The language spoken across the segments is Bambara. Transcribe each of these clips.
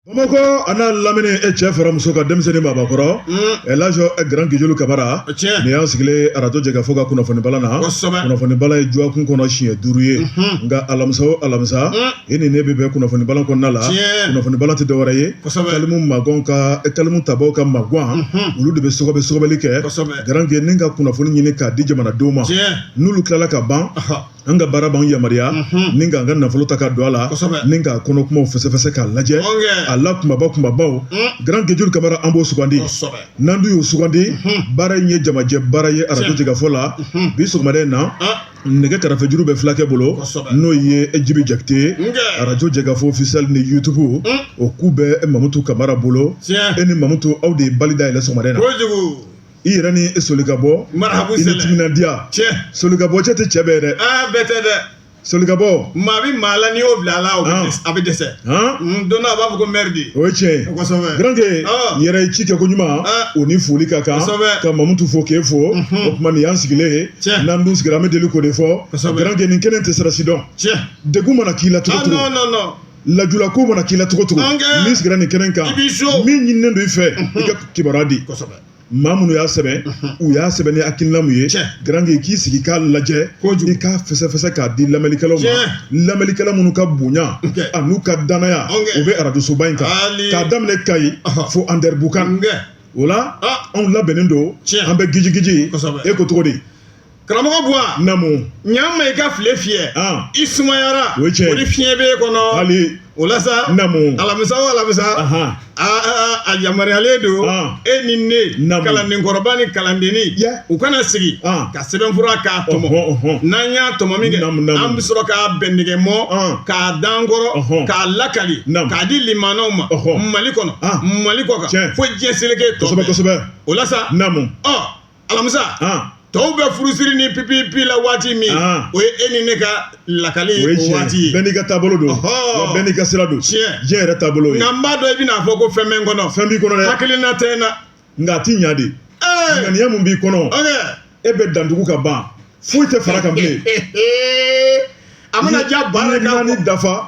Bamakɔ a n'a lamini e cɛ fara muso kan denmisɛnnin babakɔrɔ ɛ laji gran gejulu kamara nin y'an sigilen arajo jɛkafɔ ka kunnafoni bala na kunnafoni bala ye jɔkun kɔnɔ siɲɛ duuru ye nka alamisa o alamisa e ni ne bɛ bɛn kunnafoni bala kɔnɔna la kunnafoni bala tɛ dɔwɛrɛ ye kalimu ma ka kalimutabaw ka magan olu de bɛ sɔgɔbɛ sɔgɔbɛli kɛ garanke ni ka kunnafoni ɲini k'a di jamanadenw ma n'olu tilala ka ban an ka baara b'an yamaruya ni k'an ka nafolo ta ka don a la ni k'a kɔnɔ kumaw fɛsɛfɛsɛ k'a lajɛ a la kumaba kumabaw Grand Guejuru Kamara an b'o sugandi n'an dun y'o sugandi baara in ye jamajɛ baara ye arajo jɛkafɔ la bi sɔgɔmada in na nɛgɛ karafejuru bɛ fulakɛ bolo n'o ye Jibi Jakite ye arajo jɛkafɔ officiel ni YouTube o ku bɛ Mamutu Kamara bolo e ni Mamutu aw de ye bali da yɛlɛ sɔgɔmada in na. i yɛrɛ ni e solikabɔ marabu i ni sɛlɛ timinandiya cɛ solikabɔ cɛ tɛ cɛ bɛɛ dɛ aa bɛɛ tɛ dɛ solikabɔ maa bɛ maa la n'i y'o bila a la o bɛ Ah. dɛsɛ- a bɛ dɛsɛ han Mm, don dɔ a b'a fɔ ko mɛri de o ye tiɲɛ ye kosɛbɛ Garanke Ah. yɛrɛ ye ci kɛ ko ɲuman Ah. o ni foli ka kan Kosɛbɛ. ka mamutu fo k'e fo o tuma nin y'an sigilen ye Tiɲɛ. n'an dun sigira an bɛ deli k'o de fɔ Kosɛbɛ. Garanke nin kɛnɛ tɛ sirasi dɔn cɛ degun mana k'i la cogo ah cogo non non non lajula ko mana k'i la cogo cogo n'i sigira nin kɛnɛ kan min ɲininen don i fɛ i ka kibaruya di maa minnu y'a sɛbɛn u y'a sɛbɛn ni hakilina min ye garange k'i sigi k'a lajɛ i k'a fɛsɛfɛsɛ k'a di lamɛnlikɛlaw ma lamɛnlikɛla minnu ka bonya a n'u ka danaya o bɛ arajosoba in kan k'a daminɛ kayi fo andɛribukan o la anw labɛnnen don an bɛ gijigiji e ko cogo di karamɔgɔ buwa namu ɲama i ka file fiyɛ i sumayara o cɛ o ni fiɲɛ b'e kɔnɔ hali o la sa namu alamisa o alamisa a yamaruyalen don e ni ne namu kalandenkɔrɔba ni kalandenni u kana sigi ka sɛbɛnfura k'a tɔmɔ n'an y'a tɔmɔ min kɛ an bɛ sɔrɔ k'a bɛn nɛgɛ mɔ k'a dan kɔrɔ k'a lakali k'a di limanaw ma mali kɔnɔ mali kɔkan fo diɲɛ seleke tɔ kosɛbɛ kosɛbɛ o la sa namu ɔ alamisa tɔw bɛ furusiri ni pipipi la waati min o ye e ni ne ka lakali o waati ye bɛɛ n'i ka taabolo don bɛɛ n'i ka sira don tiɲɛ diɲɛ yɛrɛ taabolo ye nka n b'a dɔn i bɛn'a fɔ ko fɛn bɛ n kɔnɔ fɛn b'i kɔnɔ dɛ hakilina tɛ n na nka a ti ɲa de ŋaniya mun b'i kɔnɔ e bɛ dantugu ka ban foyi tɛ far'a kan bilen a mana ja baara naani dafa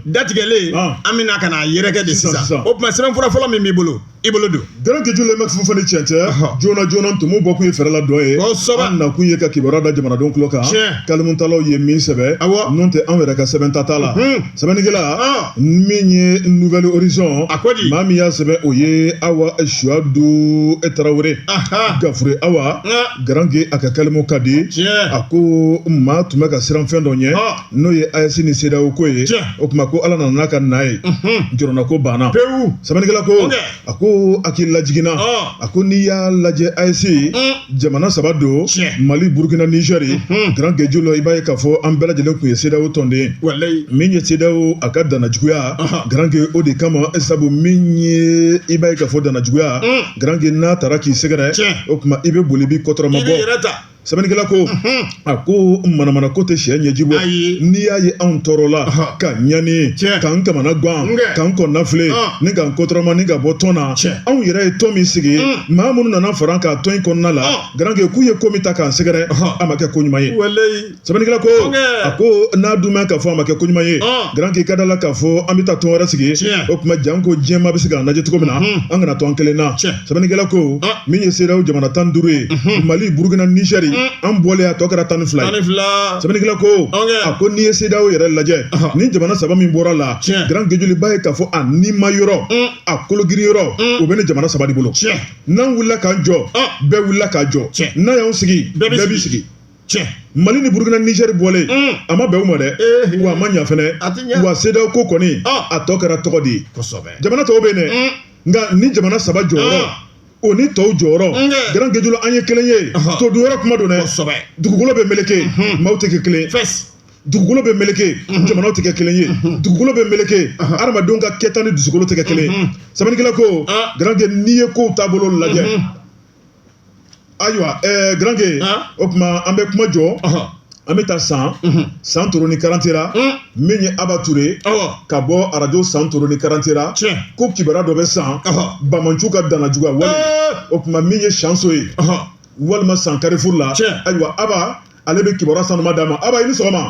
datigɛlen an bɛna ka n'a yɛrɛkɛ de sisan o tuma sɛbɛnfura fɔlɔ min b'i bolo i bolo don gran gejulu bɛ furu fana cɛn cɛ joona joona tumu bɔ kun ye fɛɛrɛ la dɔ ye kosɛbɛ an nakun ye ka kibaruya da jamanadenw tulo kan kalimutalaw ye min sɛbɛn awɔ n'o tɛ anw yɛrɛ ka sɛbɛn ta t'a la sɛbɛnnikɛla min ye nouvel horizon a ko di maa min y'a sɛbɛn o ye awa suwadu tarawele gafure awa garange a ka kalimu ka di a ko maa tun bɛ ka siran fɛn dɔ ɲɛ n'o ye AES ni CEDEAO ko ye o tuma ko ala nana ka na ye jɔrɔnako banna pewu sɛbɛnnikɛla ko a ko hakililajigin na a ko n'i y'a lajɛ AES jamana saba don mali burukina nizɛri garange julo i b'a ye k'a fɔ an bɛɛ lajɛlen tun ye CEDEAO tɔnden min ye CEDEAO a ka danajuguya garange o de kama sabu min ye i b'a ye k'a fɔ danajuguya garange n'a taara k'i sɛgɛrɛ o tuma i bɛ boli b'i kɔtɔrɔma bɔ sɛbɛnnikɛla ko a ko manamanako tɛ cɛ ɲɛji bɔ n'i y'a ye anw tɔɔrɔla ka ɲani k'an kamana gan k'an kɔnɔnafili ni k'an kɔtɔrɔma ni ka bɔ tɔn na anw yɛrɛ ye tɔn min sigi maa minnu nana fara k'a tɔn in kɔnɔna la garange k'u ye ko min ta k'an sɛgɛrɛ a ma kɛ ko ɲuman ye sɛbɛnnikɛla ko a ko n'a dun mɛn k'a fɔ a ma kɛ ko ɲuman ye garange ka da la k'a fɔ an bɛ taa tɔn wɛrɛ sigi o tuma janko diɲɛmaa bɛ se k'an lajɛ cogo min na an kana to an kelen na sɛbɛnnikɛla ko ah. min ye CEDEAO jamana tan duuru ye mhm. mali burukina nizɛri mm. an bɔlen a tɔ kɛra tan ni fila ye sɛbɛnnikɛla ko a ko n'i ye CEDEAO yɛrɛ lajɛ ni jamana saba min bɔra la garange julo i b'a ye k'a fɔ a nima yɔrɔ mm. a kologiri yɔrɔ mm. o bɛ ni jamana saba de bolo n'an wulila k'an jɔ ah. bɛɛ wulila k'a jɔ n'an y'an sigi bɛɛ b'i sigi tiɲɛ mali ni burukina nizɛri bɔlen mm. a ma bɛn u ma dɛ eh, eh. wa a ma ɲa fɛnɛ wa CEDEAO ko kɔni ah. a tɔ kɛra tɔgɔ de ye jamana tɔw bɛ yen dɛ mm. nka ni jamana saba jɔyɔrɔ o ni tɔw jɔyɔrɔ garange julo an ye kelen ye todunyɔrɔ kuma don dɛ dugukolo bɛ meleke maaw tɛ kɛ kelen ye dugukolo bɛ meleke jamanaw tɛ kɛ kelen ye dugukolo bɛ meleke adamadenw ka kɛta ni dusukolo tɛ kɛ kelen sɛbɛnnikɛla ko garange n'i ye kow taabolo lajɛ ayiwa ɛɛ garange Han? o tuma an bɛ kuma jɔ Ɔhɔ. an bɛ taa san Mhm. santoro ni karantela Mm. min ye aba ture Ɔwɔ. ka bɔ arajo santoro ni karantela Tiɲɛ. ko kibaruya dɔ bɛ san Ɔhɔ. banbaanciw ka danajuguya wale Ɛɛ. o tuma min ye siɲɛso ye Ɔhɔ. walima san karifuru la Tiɲɛ. ayiwa aba ale bɛ kibaruya sanuma d'an ma aba i ni sɔgɔma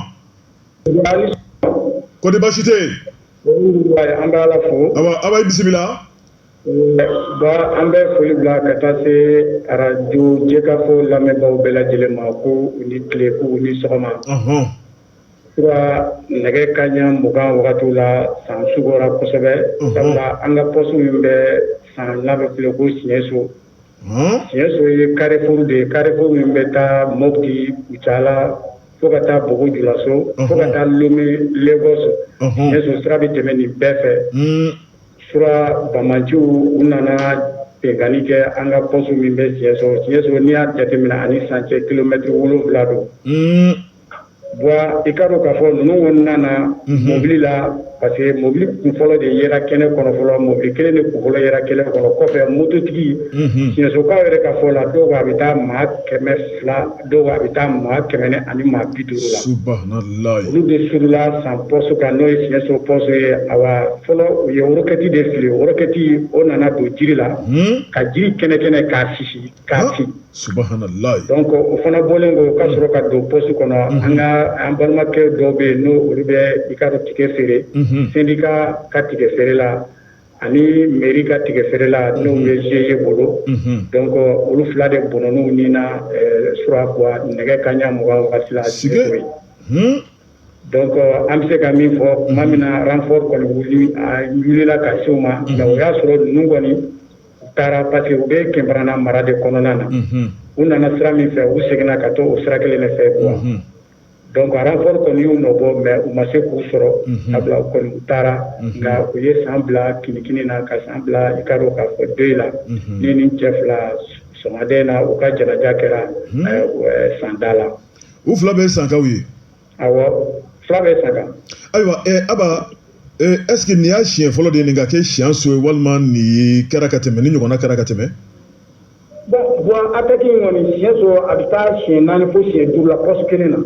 kɔdi baasi tɛ yen an bɛ ala fo awa aba i bisimila Ba an bɛ foli bila ka taa se arajo jɛkafɔ lamɛnbaaw bɛɛ lajɛlen ma ko u ni tile ko u ni sɔgɔma sura nɛgɛ kanɲɛ mugan wagatiw la san sugora kosɛbɛ sabula an ka pɔsi min bɛ san n'a bɛ wele ko siɲɛso siɲɛso ye karifuru de ye karifuru min bɛ taa mɔti kucala fo ka taa bobo julaso fo ka taa lome legɔsi siɲɛso sira bɛ tɛmɛ nin bɛɛ fɛ sura banbaanciw u nana binkanni kɛ an ka pɔsu min bɛ siɲɛso siɲɛso n'i y'a jateminɛ a ni san cɛ kilomɛtiri wolonwula don bɔn i k'a dɔn k'a fɔ ninnu kɔni nana mobili la parce que mobili kunfɔlɔ de yera kɛnɛ kɔnɔ fɔlɔ mɔbili kelen de kunfɔlɔ yera kɛnɛ kɔnɔ kɔfɛ mototigi siɲɛsokaw yɛrɛ ka fɔ la dɔw a bɛ taa maa kɛmɛ fila dɔw a bɛ taa maa kɛmɛ ni ani maa bi duuru la subahanallahi olu de surula san pɔsu kan n'o ye Siɲɛso pɔsu ye awa fɔlɔ u ye rokɛti de fili o rokɛti o nana don jiri la ka jiri kɛnɛ kɛnɛ k'a sisi k'a fin subahanallahi donc o fana bɔlen kɔ ka sɔrɔ ka don pɔsu kɔnɔ an ka an balimakɛ dɔw bɛ yen n'o olu bɛ i k'a dɔn tigɛ feere syndicat ka tigɛ feere la ani mairie ka tigɛ feerela n'u bɛ GIE bolo donc olu fila de bɔnɔn'u nin na sura nɛgɛ kanɲɛ mugan waati la si ye donc an bɛ se ka min fɔ tuma min na renfort kɔni wulila ka se u ma nka o y'a sɔrɔ ninnu kɔni u taara parce que u bɛ Kɛnbarana mara de kɔnɔna na u nana sira min fɛ u seginna ka to o sira kelen de fɛ Donc renfort kɔni y'u nɔ bɔ mais u ma se k'u sɔrɔ sabula u kɔni u taara nka u ye san bila kinikini na ka san bila i k'a dɔn k'a fɔ deuil la ni ni cɛ fila sɔgɔmada in na u ka janaja kɛra sanda la u fila bɛɛ ye sankaw ye fila bɛɛ ye sanka ayiwa Aba est-ce que nin y'a siɲɛ fɔlɔ de nin ka kɛ Siɲɛso ye walima nin kɛra ka tɛmɛ nin ɲɔgɔnna kɛra ka tɛmɛ bɔn bɔn ataki in kɔni Siɲɛso a bɛ taa siɲɛ naani fo siɲɛ duuru la pɔsu kelen na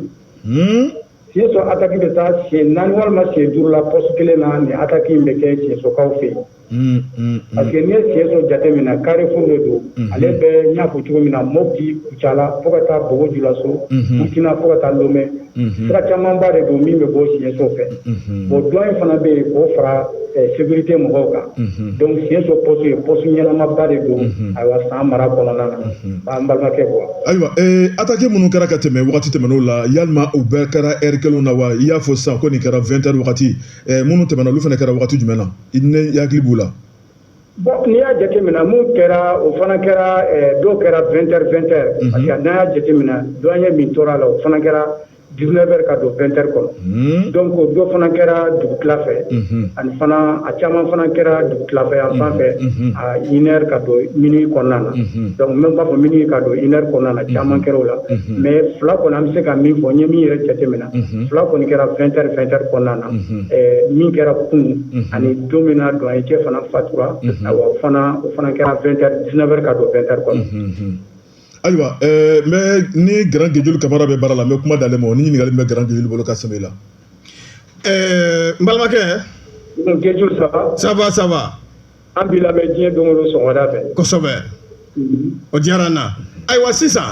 hmm? Siɲɛso ataki bɛ taa siɲɛ naani walima siɲɛ duuru la pɔsu kelen na nin ataki in bɛ kɛ Siɲɛsokaw fɛ yen hmm, hmm, parce que n'i ye Siɲɛso jateminɛ carrefour de don ale bɛ n y'a fɔ cogo min na mopti kucala fo ka taa bobo julaso burkina fo ka taa lomɛ Mhm. sira camanba de don min bɛ bɔ siɲɛso fɛ mhm. bon douane fana bɛ yen k'o fara eh, sécurité mɔgɔw kan mhm. donc siɲɛso poste ye poste ɲɛnamaba de don ayiwa san mara kɔnɔna na an balimakɛ quoi ayiwa eh, attaque minnu kɛra ka tɛmɛ wagati tɛmɛnenw la yalima u bɛɛ kɛra heure kelenw na wa i y'a fɔ sisan ko nin kɛra 20 heures wagati eh, minnu tɛmɛna olu fana kɛra wagati jumɛn na n'i hakili b'u la Bon n'i y'a jateminɛ min kɛra o fana kɛra dɔw kɛra 20 heures 20 heures parce que n'a y'a jateminɛ douanier min tora a la o fana kɛra 19 heures ka don 20 heures kɔnɔ donc dɔ fana kɛra dugutila fɛ ani fana a caman fana kɛra dugutila fɛ yan fan fɛ a 1 heure ka don minuit kɔnɔna na donc n bɛ b'a fɔ minuit ka don 1 heure kɔnɔna na caman kɛra o la mais fila kɔni an bɛ se ka min fɔ n ye min yɛrɛ jateminɛ fila kɔni kɛra 20 heures 20 heures kɔnɔna na min kɛra kun ani don min na douanier cɛ fana fatura o fana kɛra 20 heures 19 heures ka don 20 heures kɔnɔ ayiwa mais ni Grand Gejuli Kamara bɛ baara la n bɛ kuma d'ale ma o ni ɲininkali min bɛ Grand Gejuli bolo ka sɛmɛ i la n balimakɛ ça va ça va an b'i lamɛn diɲɛ don o don sɔgɔmada fɛ kosɛbɛ o diyara n na ayiwa sisan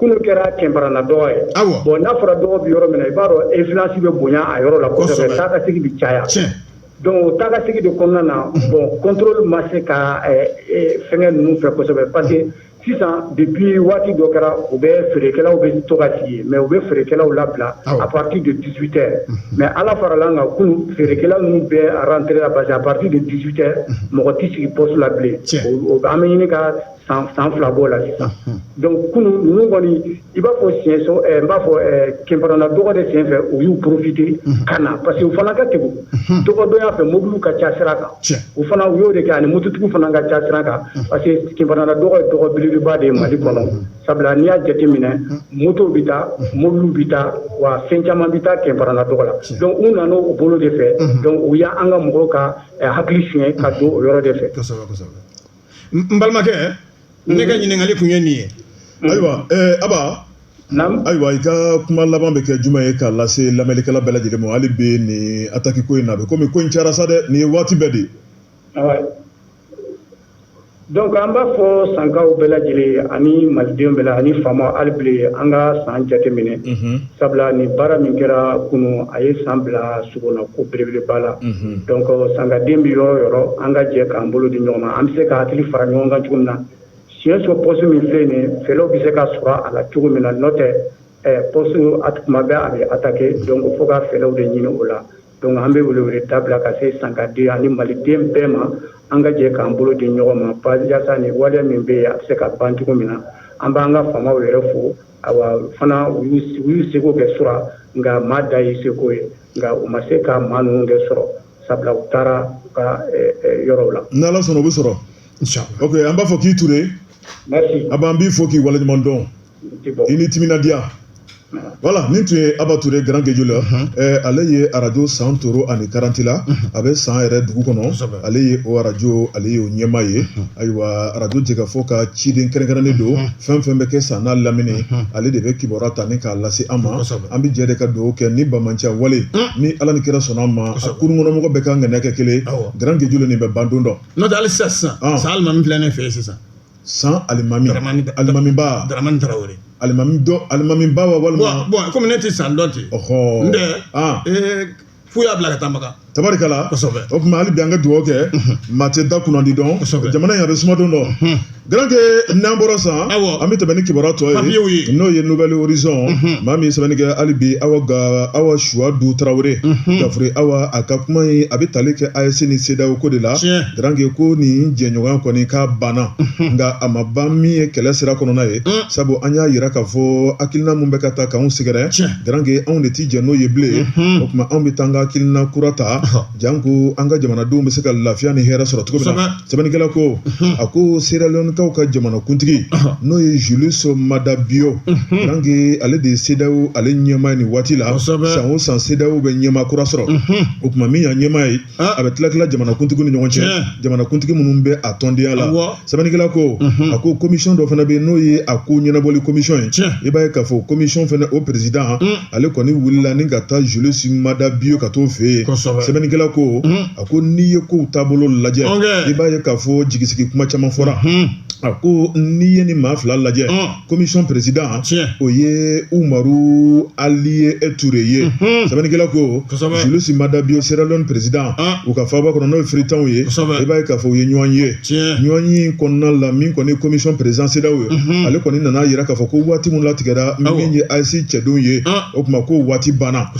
kunun kɛra kɛnparana dɔgɔ ye bɔn n'a fɔra dɔgɔ bɛ yɔrɔ min i b'a dɔn affluence bɛ bonya a yɔrɔ la kosɛbɛ taa ka segin bɛ caya donc o taa ka segin de kɔnɔna na bɔn contrôle ma se ka fɛn ninnu fɛ kosɛbɛ parce que sisan depuis waati dɔ kɛra u bɛ feerekɛlaw bɛ to ka sigi mais u bɛ feerekɛlaw labila à partir de dix-huit heures mais ala farala kan kunun feerekɛlaw ninnu bɛɛ rentré la parce que à partir de dix-huit heures mɔgɔ tɛ sigi poste la bilen an bɛ ɲini ka san fila b'o la sisan donc kunun ninnu kɔni i b'a fɔ siɛnso n b'a fɔ kɛnparana dɔgɔ de sen fɛ u y'u profiter ka na parce que u fana ka kegun dɔgɔdonya fɛ mobiliw ka ca sira kan u fana u y'o de kɛ ani mototigiw fana ka ca sira kan parce que kɛnparana dɔgɔ ye dɔgɔ belebeleba de ye mali kɔnɔ sabula n'i y'a jateminɛ moto bɛ taa mobiliw bɛ taa wa fɛn caman bɛ taa kɛnparana dɔgɔ la donc u nana o bolo de fɛ donc u y'an ka mɔgɔw ka hakili sonyɛ ka don o yɔrɔ de fɛ n balimakɛ ne ka ɲininkali kun ye nin ye ayiwa aba ayiwa i ka kuma laban bɛ kɛ jumɛn ye k'a lase lamɛnnikɛla bɛɛ lajɛlen ma hali bi nin ataki ko in na a bɛ komi ko in cayara sa dɛ nin ye waati bɛɛ de dɔnku an b'a fɔ sankaw bɛɛ lajɛlen ani malidenw bɛɛ la ani faamaw hali bi an ka san jateminɛ Sabula nin baara min kɛra kunun a ye san bila sogolon ko belebeleba la donc sankaden bɛ yɔrɔ o yɔrɔ an ka jɛ k'an bolo di ɲɔgɔn ma an bɛ se ka hakili fara ɲɔgɔn kan cogo min na siɛnso poste min filɛ nin ye fɛɛrɛw bɛ se ka sɔrɔ a la cogo min na n'o tɛ poste tuma bɛɛ a bɛ attaquer donc fo ka fɛɛrɛw de ɲini o la donc an bɛ weleweleda bila ka se sankaden ani maliden bɛɛ ma an ka jɛ k'an bolo di ɲɔgɔn ma yasa nin waleya min bɛ yen a bɛ se ka ban cogo min na an b'an ka faamaw yɛrɛ fo fana u y'u seko kɛ sura nka maa dan y'i seko ye nka u ma se ka maa ninnu kɛ sɔrɔ sabula u taara u ka yɔrɔw la n'ala sɔnna u bɛ sɔrɔ o an b'a fɔ k'i ture aba an b'i fo k'i waleɲuman dɔn i ni timinandiya voilà nin tun ye aba ture grand gejula ale ye arajo santoro ani karantela a bɛ san yɛrɛ dugu kɔnɔ ale ye o arajo ale y'o ɲɛmaa ye ayiwa arajo jɛkafɔ ka ciden kɛrɛnkɛrɛnnen don fɛn o fɛn bɛ kɛ san n'a lamini ale de bɛ kibaruya ta ni k'a lase an ma an bɛ jɛ de ka dugawu kɛ nin banbaanciya wale ni ala ni kira sɔnna a ma kurunkɔnɔmɔgɔ bɛɛ ka ŋaniya kɛ kelen grand gejula nin bɛ ban don dɔ n'o tɛ hali sisan san alimami filɛ ne fɛ sisan san alimami alimami alimami alimamiba wa walima kɔmi ne tɛ san dɔn ten fo y'a bila ka taa makan tabarikala kosɛbɛ o tuma hali bi an ka dugawu kɛ maa tɛ da kunnandi dɔn kosɛbɛ jamana in a bɛ suma don dɔ garanke n'an bɔra san awɔ an bɛ tɛmɛ ni kibaruya tɔ papiyew ye ye n'o ye nouvelle horizon maa min ye sɛbɛnni kɛ hali bi awa ga awa suwadu tarawele gafure awa a ka kuma in a bɛ tali kɛ AES ni CEDEAO ko de la Tiɲɛ. garanke ko nin jɛɲɔgɔnya kɔni k'a banna nka a ma ban min ye kɛlɛ sira kɔnɔna ye sabu an y'a yira k'a fɔ hakilina min bɛ ka taa k'anw sɛgɛrɛ Tiɲɛ. garankɛ anw de tɛ jɛ n'o ye bilen o tuma anw bɛ taa an ka hakilina kura ta janko an ka jamanadenw bɛ se ka lafiya ni hɛrɛ sɔrɔ cogo min sɛbɛnnikɛla ko a ko seralonkaw ka jamanakuntigi n'o ye Julius Maada Bio garankɛ ale de ye CEDEAO ale ɲɛmaa ye nin waati la san o san CEDEAO bɛ ɲɛmaa kura sɔrɔ o tuma min y'a ɲɛmaa ye An. a bɛ tila tila jamanakuntigi ni ɲɔgɔn cɛ Tiɲɛ. jamanakuntigi minnu bɛ a tɔndenya la Awɔ. sɛbɛnnikɛla ko a ko komisɔn dɔ fana bɛ yen n'o ye a ko ɲɛnabɔli komisɔn ye Tiɲɛ. i b'a ye k'a fɔ komisɔn fana o perezidan ale kɔni wulila ni ka taa Julius Maada Bio ka t'o fɛ yen Kosɛbɛ. sɛbɛnnikɛla ko a ko n'i ye kow taabolo lajɛ Ɔnkɛ. i b'a ye k'a fɔ jigisigi kuma caman fɔra a ko n'i ye nin maa fila lajɛ Ɔn. komisɔn perezidan o ye umaru aliye ture ye sɛbɛnnikɛla ko Julius Maada Bio seralon perezidan u ka faaba kɔnɔ n'o ye Freetown ye i b'a ye k'a fɔ u ye ɲɔgɔn ye ɲɔgɔn ye kɔnɔna la min kɔni komisɔn perezidan CEDEAO ye ale kɔni nana a yira k'a fɔ ko waati min latigɛra min ye AES cɛdenw ye o tuma ko waati banna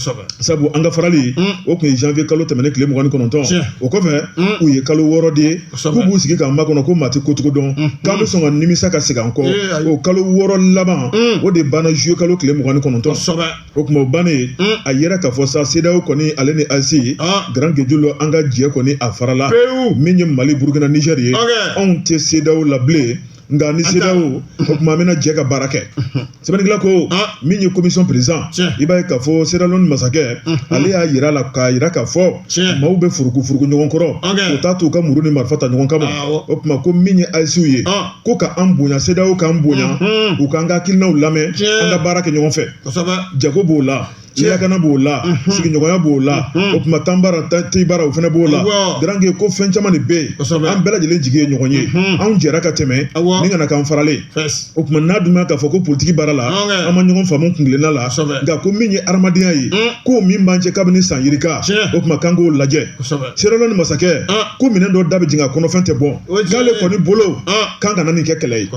sabu an ka farali o tun ye janvier kalo tɛmɛnen tile mugan ni kɔnɔntɔn o kɔfɛ u ye kalo wɔɔrɔ de ye k'u b'u sigi k'an makɔnɔ ko maa tɛ kocogo dɔn k'an bɛ sɔn ka nimisa ka segin an kɔ o kalo wɔɔrɔ laban o de banna juillet kalo tile mugan ni kɔnɔntɔn o tuma o bannen a yɛrɛ k'a fɔ sa CEDEAO kɔni ale ni AES garangejulu an ka jɛ kɔni a farala min ye mali burukina nizɛri ye anw tɛ CEDEAO la bilen nka ni CEDEAO o tuma an bɛna jɛ ka baara kɛ sɛbɛnnikɛla ko min ye komisɔn perezidan i b'a ye k'a fɔ seralon masakɛ ale y'a yira la k'a yira k'a fɔ maaw bɛ furuku furuku ɲɔgɔn kɔrɔ o t'a to u ka muru ni marifa ta ɲɔgɔn kama o tuma ko min ye AESw ye ko ka an bonya CEDEAO k'an bonya u k'an ka hakilinaw lamɛn an ka baara kɛ ɲɔgɔn fɛ jago b'o la lakana b'o la sigiɲɔgɔnya b'o la o tuma tan baara ten baara o fana b'o la garanke ko fɛn caman de bɛ yen an bɛɛ lajɛlen jigi ye ɲɔgɔn ye anw jɛra ka tɛmɛ ni kana k'an faralen o tuma n'a dun k'a fɔ ko politiki baara la an ma ɲɔgɔn faamu kuntilenna la nka ko min ye hadamadenya ye ko min b'an cɛ kabini san yirika o tuma k'an k'o lajɛ seralon masakɛ ko minɛn dɔ da bɛ jigin a kɔnɔfɛn tɛ bɔn k'ale kɔni bolo k'an kana nin kɛ kɛlɛ ye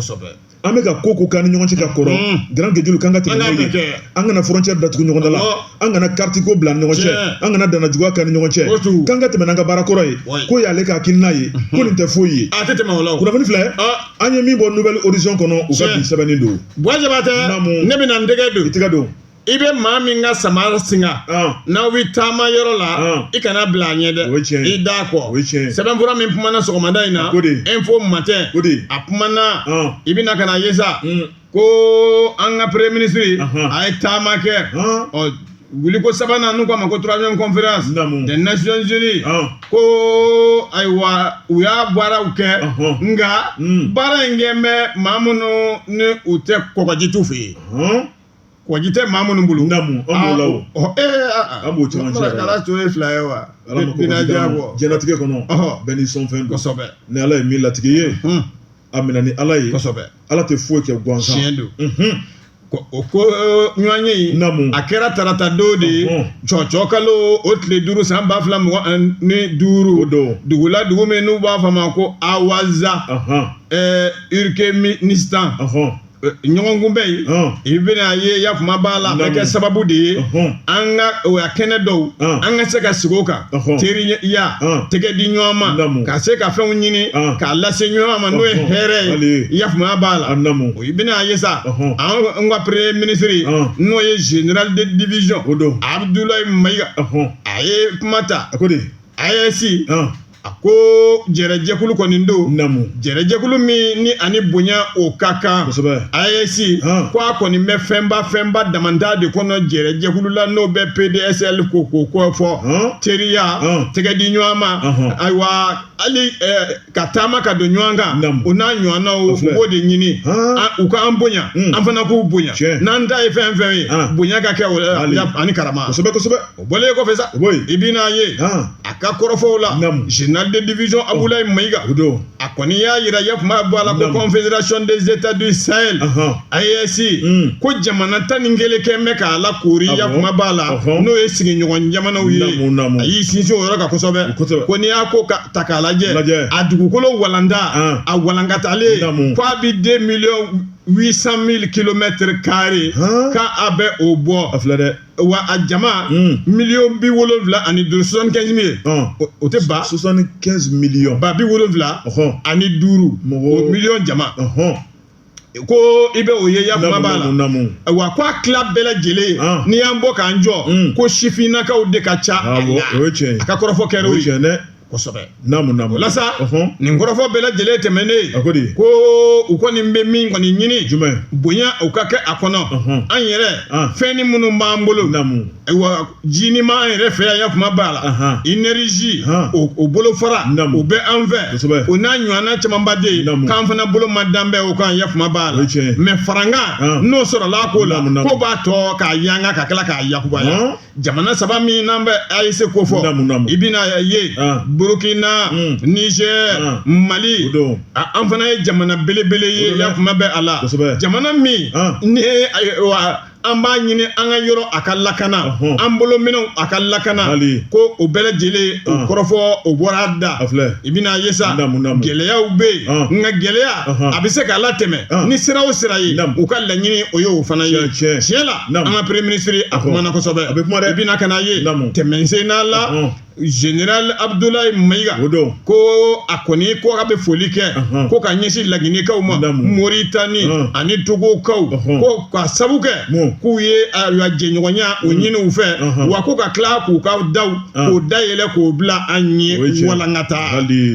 an bɛ ka ko o ko k'an ni ɲɔgɔn cɛ ka kɔrɔ garangejulu k'an ka tɛmɛ n'o ye an kana frontière datugu ɲɔgɔn da la an kana kariti ko bila an ni ɲɔgɔn cɛ an kana dana juguya k'an ni ɲɔgɔn cɛ k'an ka tɛmɛ n'an ka baara kɔrɔ ye k'o y'ale ka hakilina ye ko nin tɛ foyi ye a tɛ tɛmɛ la kunnafoni filɛ an ye min bɔ nouvelle horizon kɔnɔ u ka bi sɛbɛnni don tɛ ne bɛna n tɛgɛ don i tɛgɛ don i bɛ maa min ka samara singa n'aw bɛ taama yɔrɔ la i kana bila a ɲɛ dɛ i da kɔ sɛbɛnfura min kumana sɔgɔmada in na info matin a kumana i bɛna ka na ye sa ko an ka premier ministre a ye taama kɛ ɔ wuliko sabanan n'u k'a ma ko troisième conférence des nations unies ko ayiwa u y'a baaraw kɛ nka baara in kɛ bɛ maa minnu ni u tɛ kɔgɔji t'u fɛ yen kɔgɔji tɛ maa minnu bolo namu an b'o la an b'o caman cɛ ala to ye fila ye wa jɛnɛtigɛ kɔnɔ bɛɛ ni sɔn fɛn kosɛbɛ ni ala ye min latigɛ i ye a minɛ ni ala ye ala tɛ foyi kɛ gansan don o ko ɲɔgɔn ye in a kɛra tarata don de ye cɔcɔ kalo o tile duuru san ba fila mugan ni duuru o don dugu la dugu min n'u b'a fɔ a ma ko awaza turkménistan ɲɔgɔnkunbɛn in i bɛna ye yafama b'a la bɛ kɛ sababu de ye an ka o kɛnɛ dɔw an ka se ka sigi o kan teriya tɛgɛ di ɲɔgɔn ma ka se ka fɛnw ɲini k'a lase ɲɔgɔn ma n'o ye hɛrɛ ye yafama b'a la i bɛna ye sa an ka premier ministre n'o ye général de division abdoulaye maïga a ye kuma ta a ko AES A ko jɛrɛjɛkulu kɔni don namu jɛrɛjɛkulu min ni ani bonya o ka kan kosɛbɛ AES ko a kɔni bɛ fɛnba fɛnba dama de kɔnɔ jɛrɛjɛkulu la n'o bɛ PDSL ko ko kɔ fɔ teriya tɛgɛ di ɲɔgɔn ma ayiwa hali ka taama ka don ɲɔgɔn kan o n'a ɲɔgɔnnaw u b'o de ɲini u ka an bonya an fana k'u bonya n'an ta ye fɛn fɛn ye bonya ka kɛ ani karama kosɛbɛ O bɔlen kɔfɛ sa i bɛna a ye a ka kɔrɔfɔw la général de division abdoulaye maïga o don a kɔni y'a jira yafama b'a la ko confédération des états du sahel AES ko jamana tan ni kelen kɛ bɛ k'a lakoori yafama b'a la n'o ye sigiɲɔgɔn jamanaw ye a y'i sinsin o yɔrɔ kan kosɛbɛ ko n'i y'a ko ka ta k'a lajɛ a dugukolo walanda a walankatalen ko a bɛ deux millions huit cent mille kilomètres carrés k'a bɛ o bɔ a filɛ dɛ wa a jama miliyɔn bi wolonwula ani duuru soixante-quinze millions o tɛ ba soixante-quinze millions ba bi wolonwula ani duuru mɔgɔ miliyɔn jama ko i bɛ o ye yafama b'a la wa ko a tila bɛɛ lajɛlen n'i y'an bɔ k'an jɔ ko sifinnakaw de ka ca a ka kɔrɔfɔ kɛ o dɛ kosɛbɛ naamu naamu ola sa ɔhɔn nin kɔrɔfɔ bɛɛ lajɛlen tɛmɛnen a ko de ko u kɔni bɛ min kɔni ɲini jumɛn bonya u ka kɛ a kɔnɔ ɔhɔn an yɛrɛ fɛn ni minnu b'an bolo naamu ayiwa ji ni ma an yɛrɛ fɛ yan kuma b'a la inɛrizi o bolofara naamu o bɛ an fɛ kosɛbɛ o n'a ɲɔgɔnna camanba de ye naamu k'an fana bolo ma dan bɛ o kan ya kuma b'a la mɛ farankan n'o sɔrɔla k'o la ko b'a to k'a yanga ka tila k'a yakubaya jamana saba min n'an bɛ AES kofɔ i bɛna a ye Burukina Nizɛri Mali an fana ye jamana belebele ye yan kuma bɛ a la jamana min ni an b'a ɲini an ka yɔrɔ a ka lakana an bolominɛnw a ka lakana ko o bɛɛ lajɛlen o kɔrɔfɔ o bɔra a da i bɛna a ye sa gɛlɛyaw bɛ yen nka gɛlɛya a bɛ se k'a latɛmɛ ni sira o sira ye u ka laɲini o ye o fana ye tiɲɛ la an ka premier ministre a kumana kosɛbɛ a bɛ kuma i bɛna ka n'a ye tɛmɛsen n'a la général abudulayi mayiga o don ko a kɔni ko a bɛ foli kɛ ko ka ɲɛsin laginɛkaw ma moritani ani togokaw ko ka sabu kɛ k'u ye jɛɲɔgɔnya o ɲini u fɛ wa ko ka tila k'u ka daw k'o dayɛlɛ k'o bila an ye walankata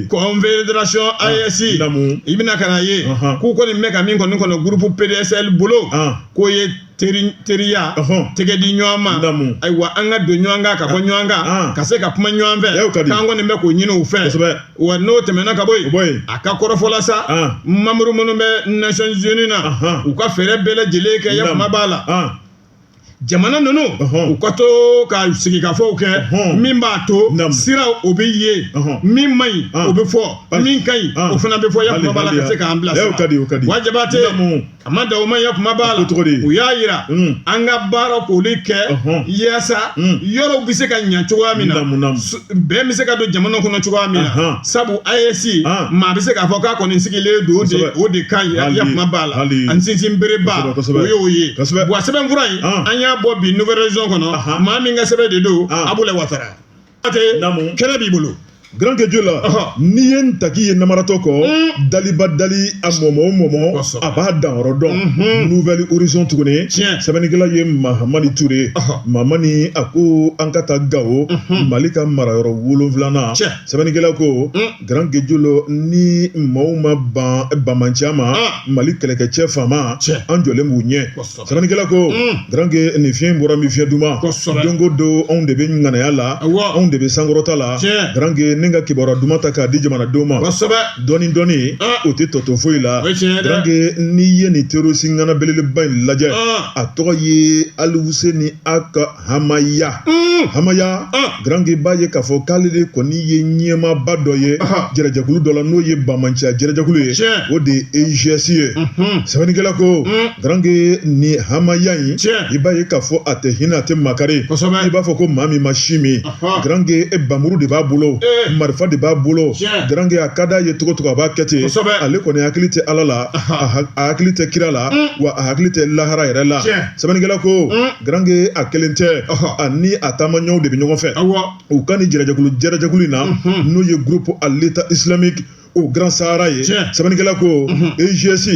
confédération AES i bɛna ka n'a ye k'u kɔni bɛ ka min kɔni kɔnɔ groupe PDSL bolo k'o ye teri teriya Ɔhɔn. tɛgɛ di ɲɔgɔn ma Naamu. ayiwa an ka don ɲɔgɔn kan ka bɔ ɲɔgɔn kan Ah. ka se ka kuma ɲɔgɔn fɛ Y'o ka di. k'an kɔni bɛ k'o ɲini u fɛ Kosɛbɛ. wa n'o tɛmɛna ka bɔ O bɔ yen yen. a ka kɔrɔfɔ la sa Ah. mamuru minnu bɛ nations unies na Ahan. u ka fɛɛrɛ bɛɛ lajɛlen kɛ yakuma Naamu. b'a la Ɔn. jamana ninnu Ɔhɔn. u ka to ka sigikafɔw kɛ Ɔhɔn. min b'a to Naamu. sira o bɛ ye Ɔhɔn. min man ɲi Ɔn. o bɛ fɔ Pas- min ka ɲi Ɔn. o fana bɛ fɔ yakuma b'a la Hali- ka se k'an hali- bila sira Y'o ka di, o ka di. wa Jabate Naamu. A ma dan o ma ye kuma b'a la cogo u y'a jira an ka baara k'olu kɛ yaasa yɔrɔw bɛ se ka ɲɛ cogoya min na bɛɛ bɛ se ka don jamana kɔnɔ cogoya min na sabu AES maa bɛ se k'a fɔ k'a kɔni sigilen don o de kan a kuma b'a la an sinsinbereba y'o ye sɛbɛnfura in an y'a bɔ bi nouvel horizon kɔnɔ maa min ka sɛbɛn de don Abulayi Watara kɛnɛ b'i bolo grand keju la n'i ye n taki ye namaratɔ kɔ mm. daliba dali a mɔmɔ o mɔmɔ a b'a danyɔrɔ dɔn mm-hmm. nouvel horizon tuguni sɛbɛnnikɛla ye mahamani ture mahamani a ko an ka taa gawo mm-hmm. mali ka marayɔrɔ wolonfilanan sɛbɛnnikɛla ko mm. grand keju lo ni maaw ma ban banbaanciya ma ah. mali kɛlɛkɛcɛ FAMa an jɔlen b'u ɲɛ Sɛbɛnnikɛla ko grand ke nin fiɲɛ in bɔra min fiɲɛ duman don o don anw de bɛ ŋanaya la anw de bɛ sankɔrɔta la grand ke ne ka kibaruya duman ta k'a di jamanadenw ma dɔɔni dɔɔni o tɛ tɔ to foyi la grand ke n'i ye nin terroriste ŋana belebeleba in lajɛ a tɔgɔ ye Alihuseni Ag hamaya hamaya garanke b'a ye k'a fɔ k'ale de kɔni ye ɲɛmaaba dɔ ye jɛrɛjɛkulu dɔ la n'o ye bamanciya jɛrɛjɛkulu ye o de ye EIGS ye sɛbɛnnikɛla ko garankɛ ni hamaya in i b'a ye k'a fɔ a tɛ hinɛ a tɛ makari i b'a fɔ ko maa min ma sin min garankɛ bamuru de b'a bolo marifa de b'a bolo garankɛ a ka d'a ye cogo o cogo a b'a kɛ ten ale kɔni hakili tɛ ala la a hakili tɛ kira la wa a hakili tɛ lahara yɛrɛ la sɛbɛnnikɛla ko garange a kelen tɛ ani a taama ɲɔgɔnw de bɛ ɲɔgɔn fɛ u ka nin jɛrɛjɛkulu jɛrɛjɛkulu in na n'o ye groupe à l'état islamique au grand sahara ye sɛbɛnnikɛla ko EIGS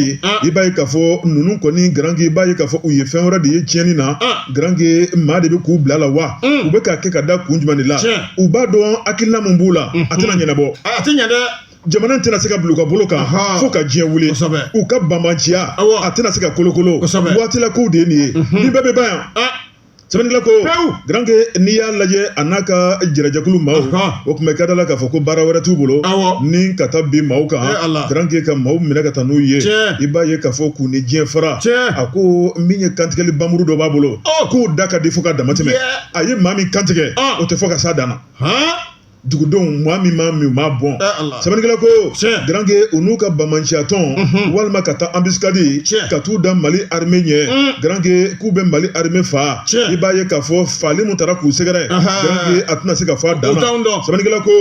i b'a ye k'a fɔ ninnu kɔni garange i b'a ye k'a fɔ u ye fɛn wɛrɛ de ye tiɲɛni na garange maa de bɛ k'u bil'a la wa u bɛ k'a kɛ ka da kun jumɛn de la u b'a dɔn hakilina min b'u la a tɛna ɲɛnabɔ a tɛ ɲɛ dɛ jamana tɛna se ka bila u ka bolo kan fo ka diɲɛ wuli u ka banbanciya a tɛna se ka kolokolo waatila kow de ye nin ye mhm. nin bɛɛ bɛ ban yan ah! sɛbɛnnikɛla ko garanke n'i y'a lajɛ a n'a ka jɛrɛjɛkulu maaw o tun bɛ ka da la k'a fɔ ko baara wɛrɛ t'u bolo ni ka taa bin maaw kan garanke ka maaw minɛ ka taa n'u ye i b'a ye k'a fɔ k'u ni diɲɛ fara a ko min ye kantigɛli bamuru dɔ b'a bolo oh! k'o da ka di fo ka dama tɛmɛ a ye maa min kantigɛ ah! o tɛ fɔ ka s'a dan na dugudenw maa min maa min m'a bɔn sɛbɛnnikɛla ko garankɛ u n'u ka bamanciya tɔn walima ka taa embuscade ka t'u da mali armée ɲɛ garankɛ k'u bɛ mali armée faa i b'a ye k'a fɔ faali min taara k'u sɛgɛrɛ garankɛ a tɛna se ka fɔ a dan sɛbɛnnikɛla ko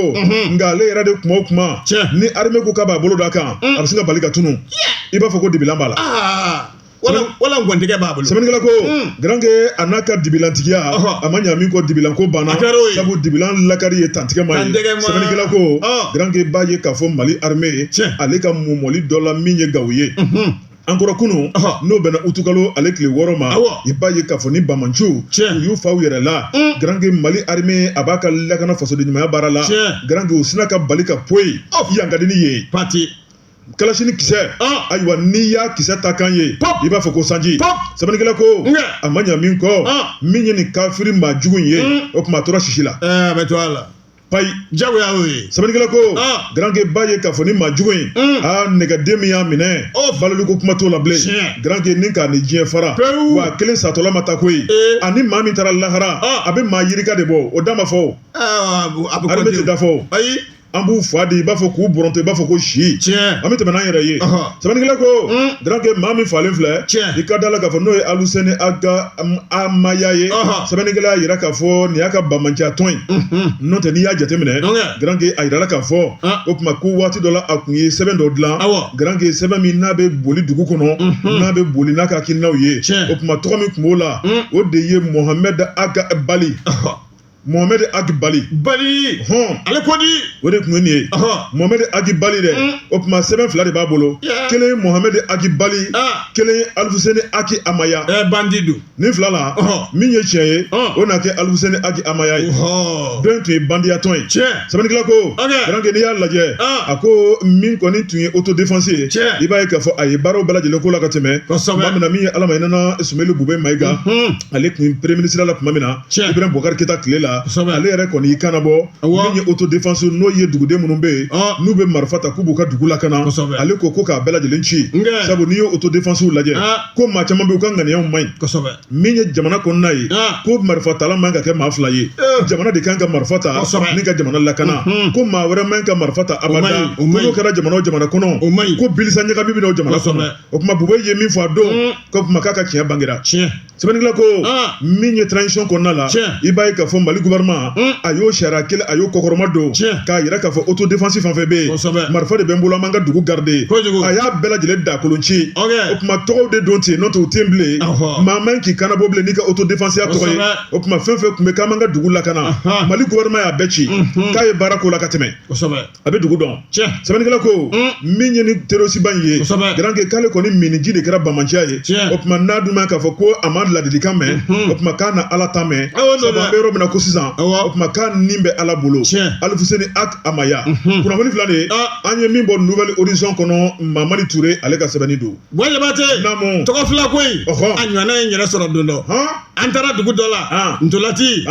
nka ale yɛrɛ de kuma o kuma ni armée ko k'a b'a bolo da a kan a bɛ se ka bali ka tunun i b'a fɔ ko dibilan b'a la wala ngɔntigɛ b'a bolo sɛbɛnnikɛla ko garankɛ a n'a ka dibilantigiya a ma ɲa min kɔ dibilan ko banna sabu dibilan lakari ye tantigɛ ma ye sɛbɛnnikɛla ko garankɛ b'a ye k'a fɔ mali armée ale ka mɔmɔli dɔ la min ye gawo ye an kɔrɔ kunun n'o bɛnna utukalo ale tile wɔɔrɔ ma i b'a ye k'a fɔ nin bamanciw u y'u fa u yɛrɛ la garankɛ mali armée a b'a ka lakana fasoden ɲumanya baara la garankɛ u sina ka bali ka poyi yan ka di ni ye pati kalasini kisɛ ayiwa n'i y'a kisɛ ta kan ye i b'a fɔ ko sanji sɛbɛnnikɛla ko a ma ɲa min kɔ min ye nin kafiri maa jugu in ye o tuma a tora sisi la a bɛ to a la payi jagoya y'o ye sɛbɛnnikɛla ko garanke b'a ye k'a fɔ nin maa jugu in aa nɛgɛden min y'a minɛ baloli ko kuma t'o la bilen garanke ni k'a ni diɲɛ fara wa a kelen satɔla ma taa koyi ani maa min taara lahara a bɛ maa yirika de bɔ o da ma fɔ a bɛ tɛ da fɔ ayi an b'u fa di i b'a fɔ k'u bɔrɔntɔ i b'a fɔ ko si tiɲɛ an bɛ tɛmɛ n'an yɛrɛ ye sɛbɛnnikɛla ko garankɛ maa min falen filɛ tiɲɛ i ka da la k'a fɔ n'o ye alusɛni agi amaya ye sɛbɛnnikɛla y'a jira k'a fɔ nin y'a ka bamanciya tɔgɔ ye n'o tɛ n'i y'a jateminɛ garankɛ a jirala k'a fɔ o tuma ko waati dɔ la a tun ye sɛbɛn dɔ dilan garankɛ sɛbɛn min n'a bɛ boli dugu kɔnɔ n'a bɛ boli n'a ka hakilinaw ye o tuma tɔgɔ min tun b'o la o de ye mohamɛdi agi bali Mohamɛdi agi bali bali hɔn ale ko di o de tun ye nin ye mohamɛdi agi bali dɛ o tuma sɛbɛn fila de b'a bolo kelen ye mohamɛdi agi bali kelen ye alifuseni agi amaya bandi don ni fila la min ye tiɲɛ ye o na kɛ alifuseni agi amaya ye hɔn dɔ tun ye bandiya tɔgɔ ye cɛ sɛbɛnnikɛla ko garankɛ n'i y'a lajɛ a ko min kɔni tun ye auto défense ye cɛ i b'a ye k'a fɔ a ye baaraw bɛɛ lajɛlen k'o la ka tɛmɛ tuma min na min ye ala ma hinɛ a la sumeyilu bubɛ mayiga ale tun premier ministre la tuma min na Tiɲɛ. Ibrahim Boubacar Keita tile la Kosɛbɛ. ale yɛrɛ kɔni y'i kanabɔ Awɔ. min ye auto défense n'o ye duguden minnu bɛ yen Ɔ. n'u bɛ marifa ta k'u b'u ka dugu lakana Kosɛbɛ. ale ko ko k'a bɛɛ lajɛlen ci Nkɛ. sabu n'i ye auto défense lajɛ Aa. ko maa caman bɛ yen u ka ŋaniyaw man ɲi kosɛbɛ min ye jamana kɔnɔna ye Aa. ko marifa tala man ka kɛ maa fila ye Eh. jamana de kan ka marifa ta Kosɛbɛ. ni ka jamana lakana Mhm. ko maa wɛrɛ man ka marifa ta abada O man ɲi, o ko man ɲi. n'o kɛra jamana o jamana kɔnɔ O man ɲi. ko bilisa ɲagami bɛ na o jamana Kosɛbɛ. kɔnɔ o tuma bubɛ ye min fɔ a don Mm. ko o tuma k'a ka tiɲɛ bangera tiɲɛ sɛbɛnnikɛla ko min ye transition kɔnɔna la i b'a ye k'a fɔ mali gouvernement a y'o sariya kelen a y'o kɔkɔrɔmadon k'a yira k'a fɔ auto défense fɛn fɛn bɛ yen marifa de bɛ n bolo an b'an ka dugu garde a y'a bɛɛ lajɛlen dakolon ci o tuma tɔgɔw de don ten n'o tɛ u tɛ yen bilen maa man k'i kanabɔ bilen n'i ka auto défense ya tɔgɔ ye o tuma fɛn fɛn tun bɛ k'an b'an ka dugu lakana mali gouvernement y'a bɛɛ ci k'a ye baara k'o la ka tɛmɛ a bɛ dugu dɔn sɛbɛnnikɛla ko min ye ni terorisiba in ye garankɛ k'ale kɔni miniji de kɛra bamanciya ye o tuma n'a dun ma k'a fɔ ko a ma ladilikan mɛn o tuma k'a na ala ta mɛn an bɛ yɔrɔ min na ko sisan o tuma k'a nin bɛ ala bolo alifuseni agi amaya kunnafoni filɛ an ye min bɔ Nouvel Horizon kɔnɔ mahamani ture ale ka sɛbɛnni don jabate tɔgɔ fila ko in a ɲɔgɔnna ye n yɛrɛ sɔrɔ don dɔ an taara dugu dɔ la ntolaci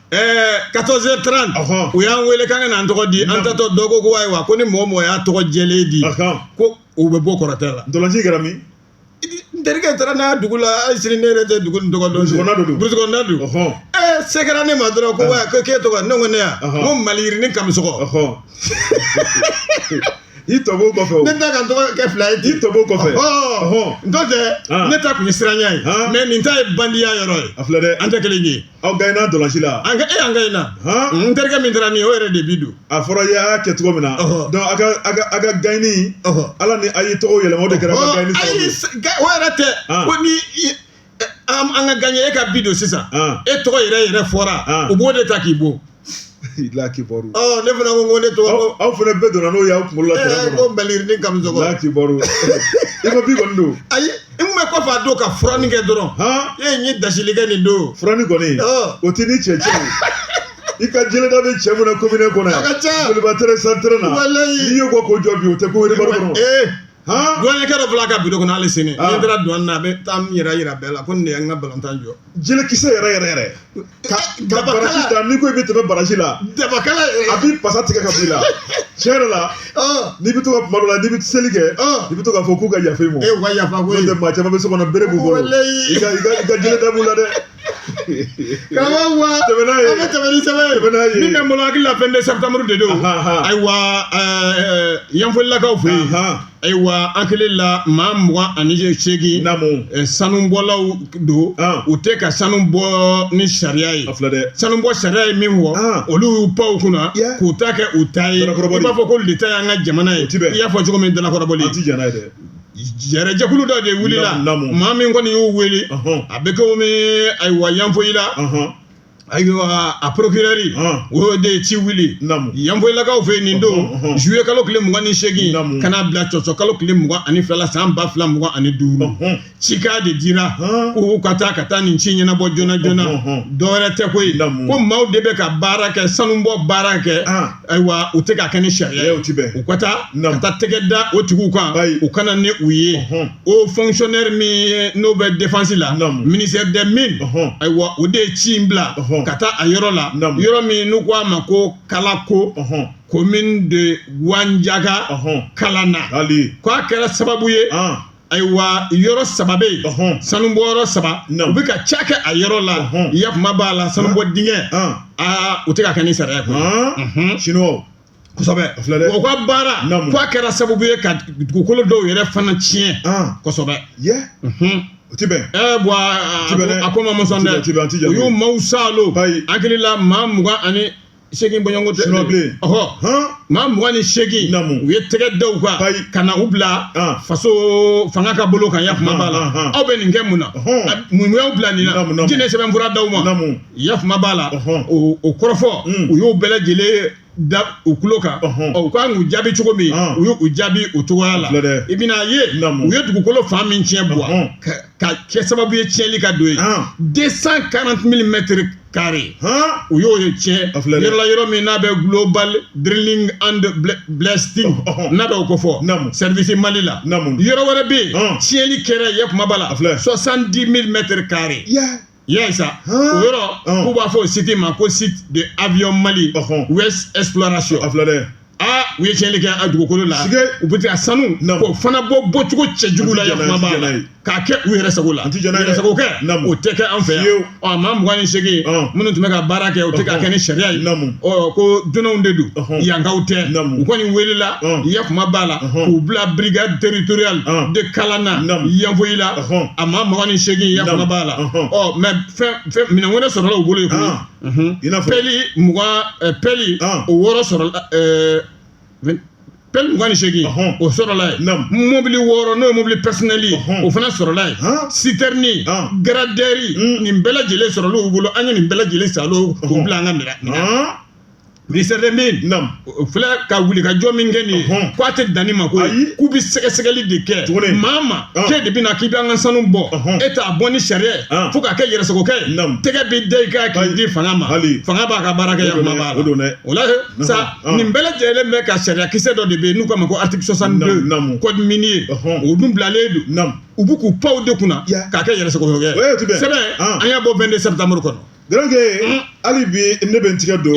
Ɛɛ quatorze heures trente u y'an wele k'an ka n'an tɔgɔ di an taatɔ dɔw ko ayiwa ko ni mɔgɔ mɔgɔ y'a tɔgɔ jɛlen di ko u b'i bon kɔrɔtɛ la ntolaci kɛra min n terikɛ taara n'a dugu la hali sini ne yɛrɛ tɛ dugu tɔgɔ dɔn burusi kɔnɔna don ɛɛ se kɛra ne ma dɔrɔn ko ko k'e tɔgɔ ne ko ne yan ko maliyirini kamisɔgɔ i tɔ kɔfɛ ne ta ka n tɔgɔ kɛ fila ye i tɔ kɔfɛ n'o tɛ ne ta tun ye siranya ye mais nin ta ye bandiya yɔrɔ ye a filɛ dɛ an tɛ kelen ye Aw gaɲena ntolaci la an e an gaɲena n terikɛ min taara nin o yɛrɛ de bi don a fɔra i y'a kɛ cogo min na donc a ka gaɲe ala ni a ye tɔgɔ yɛlɛma o de kɛra ka gaɲe o yɛrɛ tɛ ko ni an ka gaɲe e ka bi don sisan e tɔgɔ yɛrɛ yɛrɛ fɔra u b'o de ta k'i bon i la kibaru ne fana ko ko ne to aw fana bɛɛ donna n'o y'aw kunkolo la kɛlɛ ko bali ni kami i la kibaru i ma bi kɔni don ayi i kun bɛ kɔfɛ a don ka furanni kɛ dɔrɔn e n ye dasili kɛ nin don furanni kɔni o tɛ ni cɛ cɛ i ka jeleda bɛ cɛ mun na commune kɔnɔ yan joliba tere san tere na n'i ye ko ko jɔ bi o tɛ ko wɛrɛ kɔnɔ douanier dɔ fila ka bureau kɔnɔ hali sini n taara douane na a bɛ taa yɛrɛ jira bɛɛ la ko nin an ka balontan jɔ jelekisɛ yɛrɛ yɛrɛ yɛrɛ da ni ko i bɛ tɛmɛ baraji la daba a b'i pasa tigɛ ka bɔ i la tiɲɛ yɛrɛ la n'i bɛ to ka kuma dɔ la n'i bɛ seli kɛ i bɛ to k'a fɔ k'u ka yafa i ma maa caman bɛ so kɔnɔ bere b'u bolo i ka jeleda b'u la dɛ karamɔgɔ wa tɛmɛ n'a ye an bɛ tɛmɛ ni sɛbɛn ye tɛmɛ n'a ye min bɛ n bolo hakili la 22 septembre de don Ahan. ayiwa ɛɛ yanfolilakaw fɛ yen Ahan. ayiwa an hakili la maa mugan ani seegin namu ɛ, sanubɔlaw don An. u tɛ ka sanu bɔ ni sariya ye a filɛ dɛ sanubɔ sariya ye min fɔ An. olu y'u pan o kunna Yeah. k'u ta kɛ u ta ye i Dalakɔrɔbɔli. b'a fɔ k'olu ta y'an ka jamana ye O ti bɛn. i y'a fɔ cogo min dalakɔrɔbɔli an ti jɛn n'a ye dɛ Jɛrɛjɛkulu dɔ de wilila maa min kɔni y'u weele a bɛ komi ayiwa yanfolila ayiwa a procureur o de ye ci wuli yanfolilakaw fɛ yen nin don juillet kalo tile mugan ni segin ka n'a bila tɔtɔ kalo tile mugan ani fila la san ba fila mugan ani duuru cikan de dira k'u ka taa ka taa nin ci ɲɛnabɔ joona joona dɔwɛrɛ tɛ koyi ko maaw de bɛ ka baara kɛ sanubɔ baara kɛ Ayiwa u tɛ k'a kɛ ni sariya ye u ka taa ka taa tɛgɛ da o tigiw kan u ka na ni u ye haut fonctionnaire min n'o bɛ défense la ministère des mines ayiwa o de ye ci in bila ka taa a yɔrɔ la yɔrɔ min n'u ko a ma ko Kalako commune de Gouandiaka Kalana k'a kɛra sababu ye ayiwa yɔrɔ saba bɛ yen ɔhɔn sanubɔ yɔrɔ saba Naamu. u bɛ ka ca kɛ a yɔrɔ la Ɔhɔn. yakuma b'a la sanubɔ dingɛ Ɔn. aa u tɛ k'a kɛ ni sariya ye koyi. Ɔn. Mhm. Chinois. kosɛbɛ A filɛ dɛ. o ka baara Naamu. k'a kɛra sababu ye ka dugukolo dɔw yɛrɛ fana tiɲɛ Ɔn. kosɛbɛ Yɛ. Mhm. O ti bɛn. ɛ bɔn a- Ti bɛn dɛ. a ko ma mɔsɔn Ti bɛn, ti bɛn, an ti dɛ jate. u y'u maaw saalo Ayi. an hakili la maa mugan ani segin bɔɲɔgɔnko tɛ Sunɔgɔ bilen. ɔhɔ han maa mugan ni segin Naamu. u ye tɛgɛ da u kan Ayi. ka na u bila Ah. faso fanga ka bolo kan ya kuma b'a la Ah, ah, ah. aw bɛ nin kɛ mun na Ɔhɔn. A- mun y'aw bila nin na Naamu, naamu. jɔn ye sɛbɛnfura d'aw ma Naamu. ya kuma b'a la Ɔhɔn. o o kɔrɔfɔ Mm. u y'u bɛɛ lajɛlen da u tulo kan Ɔhɔn. Ɔ, u ka kan k'u jaabi cogo min Ah. u y'u u jaabi o cogoya la Filɛ dɛ. i bɛna a ye Naamu. u ye dugukolo fan min tiɲɛ bɔ Ɔhɔn. ka ka kɛ sababu ye tiɲɛli ka don yen Ah. 240 000 mètres carrés u y'o ye tiɲɛ yɔrɔ la yɔrɔ min n'a bɛ global drilling and blasting n'a bɛ o ko fɔ service Mali la yɔrɔ wɛrɛ bɛ yen tiɲɛli kɛra ya kuma b'a la 70 000 mètres carrés i y'a ye sa o yɔrɔ k'u b'a fɔ o site ma ko site de avion Mali West exploration aa u ye tiɲɛli kɛ a dugukolo la Sike. u bɛ taa sanu Naamu. k'o fana bɔ bɔcogo cɛjugu la An ti yan jɛn n'a ye, kuma b'a la an ti jɛn n'a ye. k'a kɛ u yɛrɛ sago la An ti jɛn n'a ye dɛ. yɛrɛsago kɛ Naamu. o tɛ kɛ an fɛ yan Fiyewu. ɔ maa mugan ni seegin Ɔn. minnu tun bɛ ka baara kɛ u tɛ k'a Ɔhɔn. kɛ ni sariya ye Naamu. ɔ ko dunanw de don Ɔhɔn. yankaw tɛ Naamu. u kɔni welela Ɔn. ya kuma b'a la Ɔhɔn. k'u bila brigade territoriale Ɔn. de Kalana Naamu. Yanfoyila Ɔhɔn. a maa mugan ni seegin ya Naamu. kuma b'a la Ɔhɔn. ɔ mais fɛn fɛn minɛn wɛrɛ sɔrɔla u bolo yen koyi Ɔn. i'a fɔ pelle mugan pelle o wɔɔrɔ sɔrɔla pelle mugan ni seegin o sɔrɔla mɔbili wɔɔrɔ n'o mɔbili personnel o fana sɔrɔla yen sitɛrini gradɛri nin bɛɛ lajɛlen sɔrɔla u bolo an ye nin bɛɛ lajɛlen sa k'u bila an ka minɛ Ministère des mines filɛ ka wuli ka jɔ min kɛ nin ye k'a tɛ dan nin ma ko k'u bɛ sɛgɛsɛgɛli de kɛ maa ma k'e de bɛ na k'i bɛ an ka sanu bɔ e t'a bɔ ni sariya ye fo k'a kɛ yɛrɛsagokɛ tɛgɛ bɛ da i kan k'i di fanga ma hali fanga b'a ka baara kɛ ya kuma b'a la o la sa nin bɛɛ lajɛlen bɛ ka sariyakisɛ dɔ de bɛ yen n'u k'a ma ko article 62 code minier o dun bilalen don u bɛ k'u panw de kunna k'a kɛ yɛrɛsagokɛ ye sɛbɛn an y'a bɔ 22 septembre kɔnɔ Garankɛ hali bi ne bɛ n tigɛ don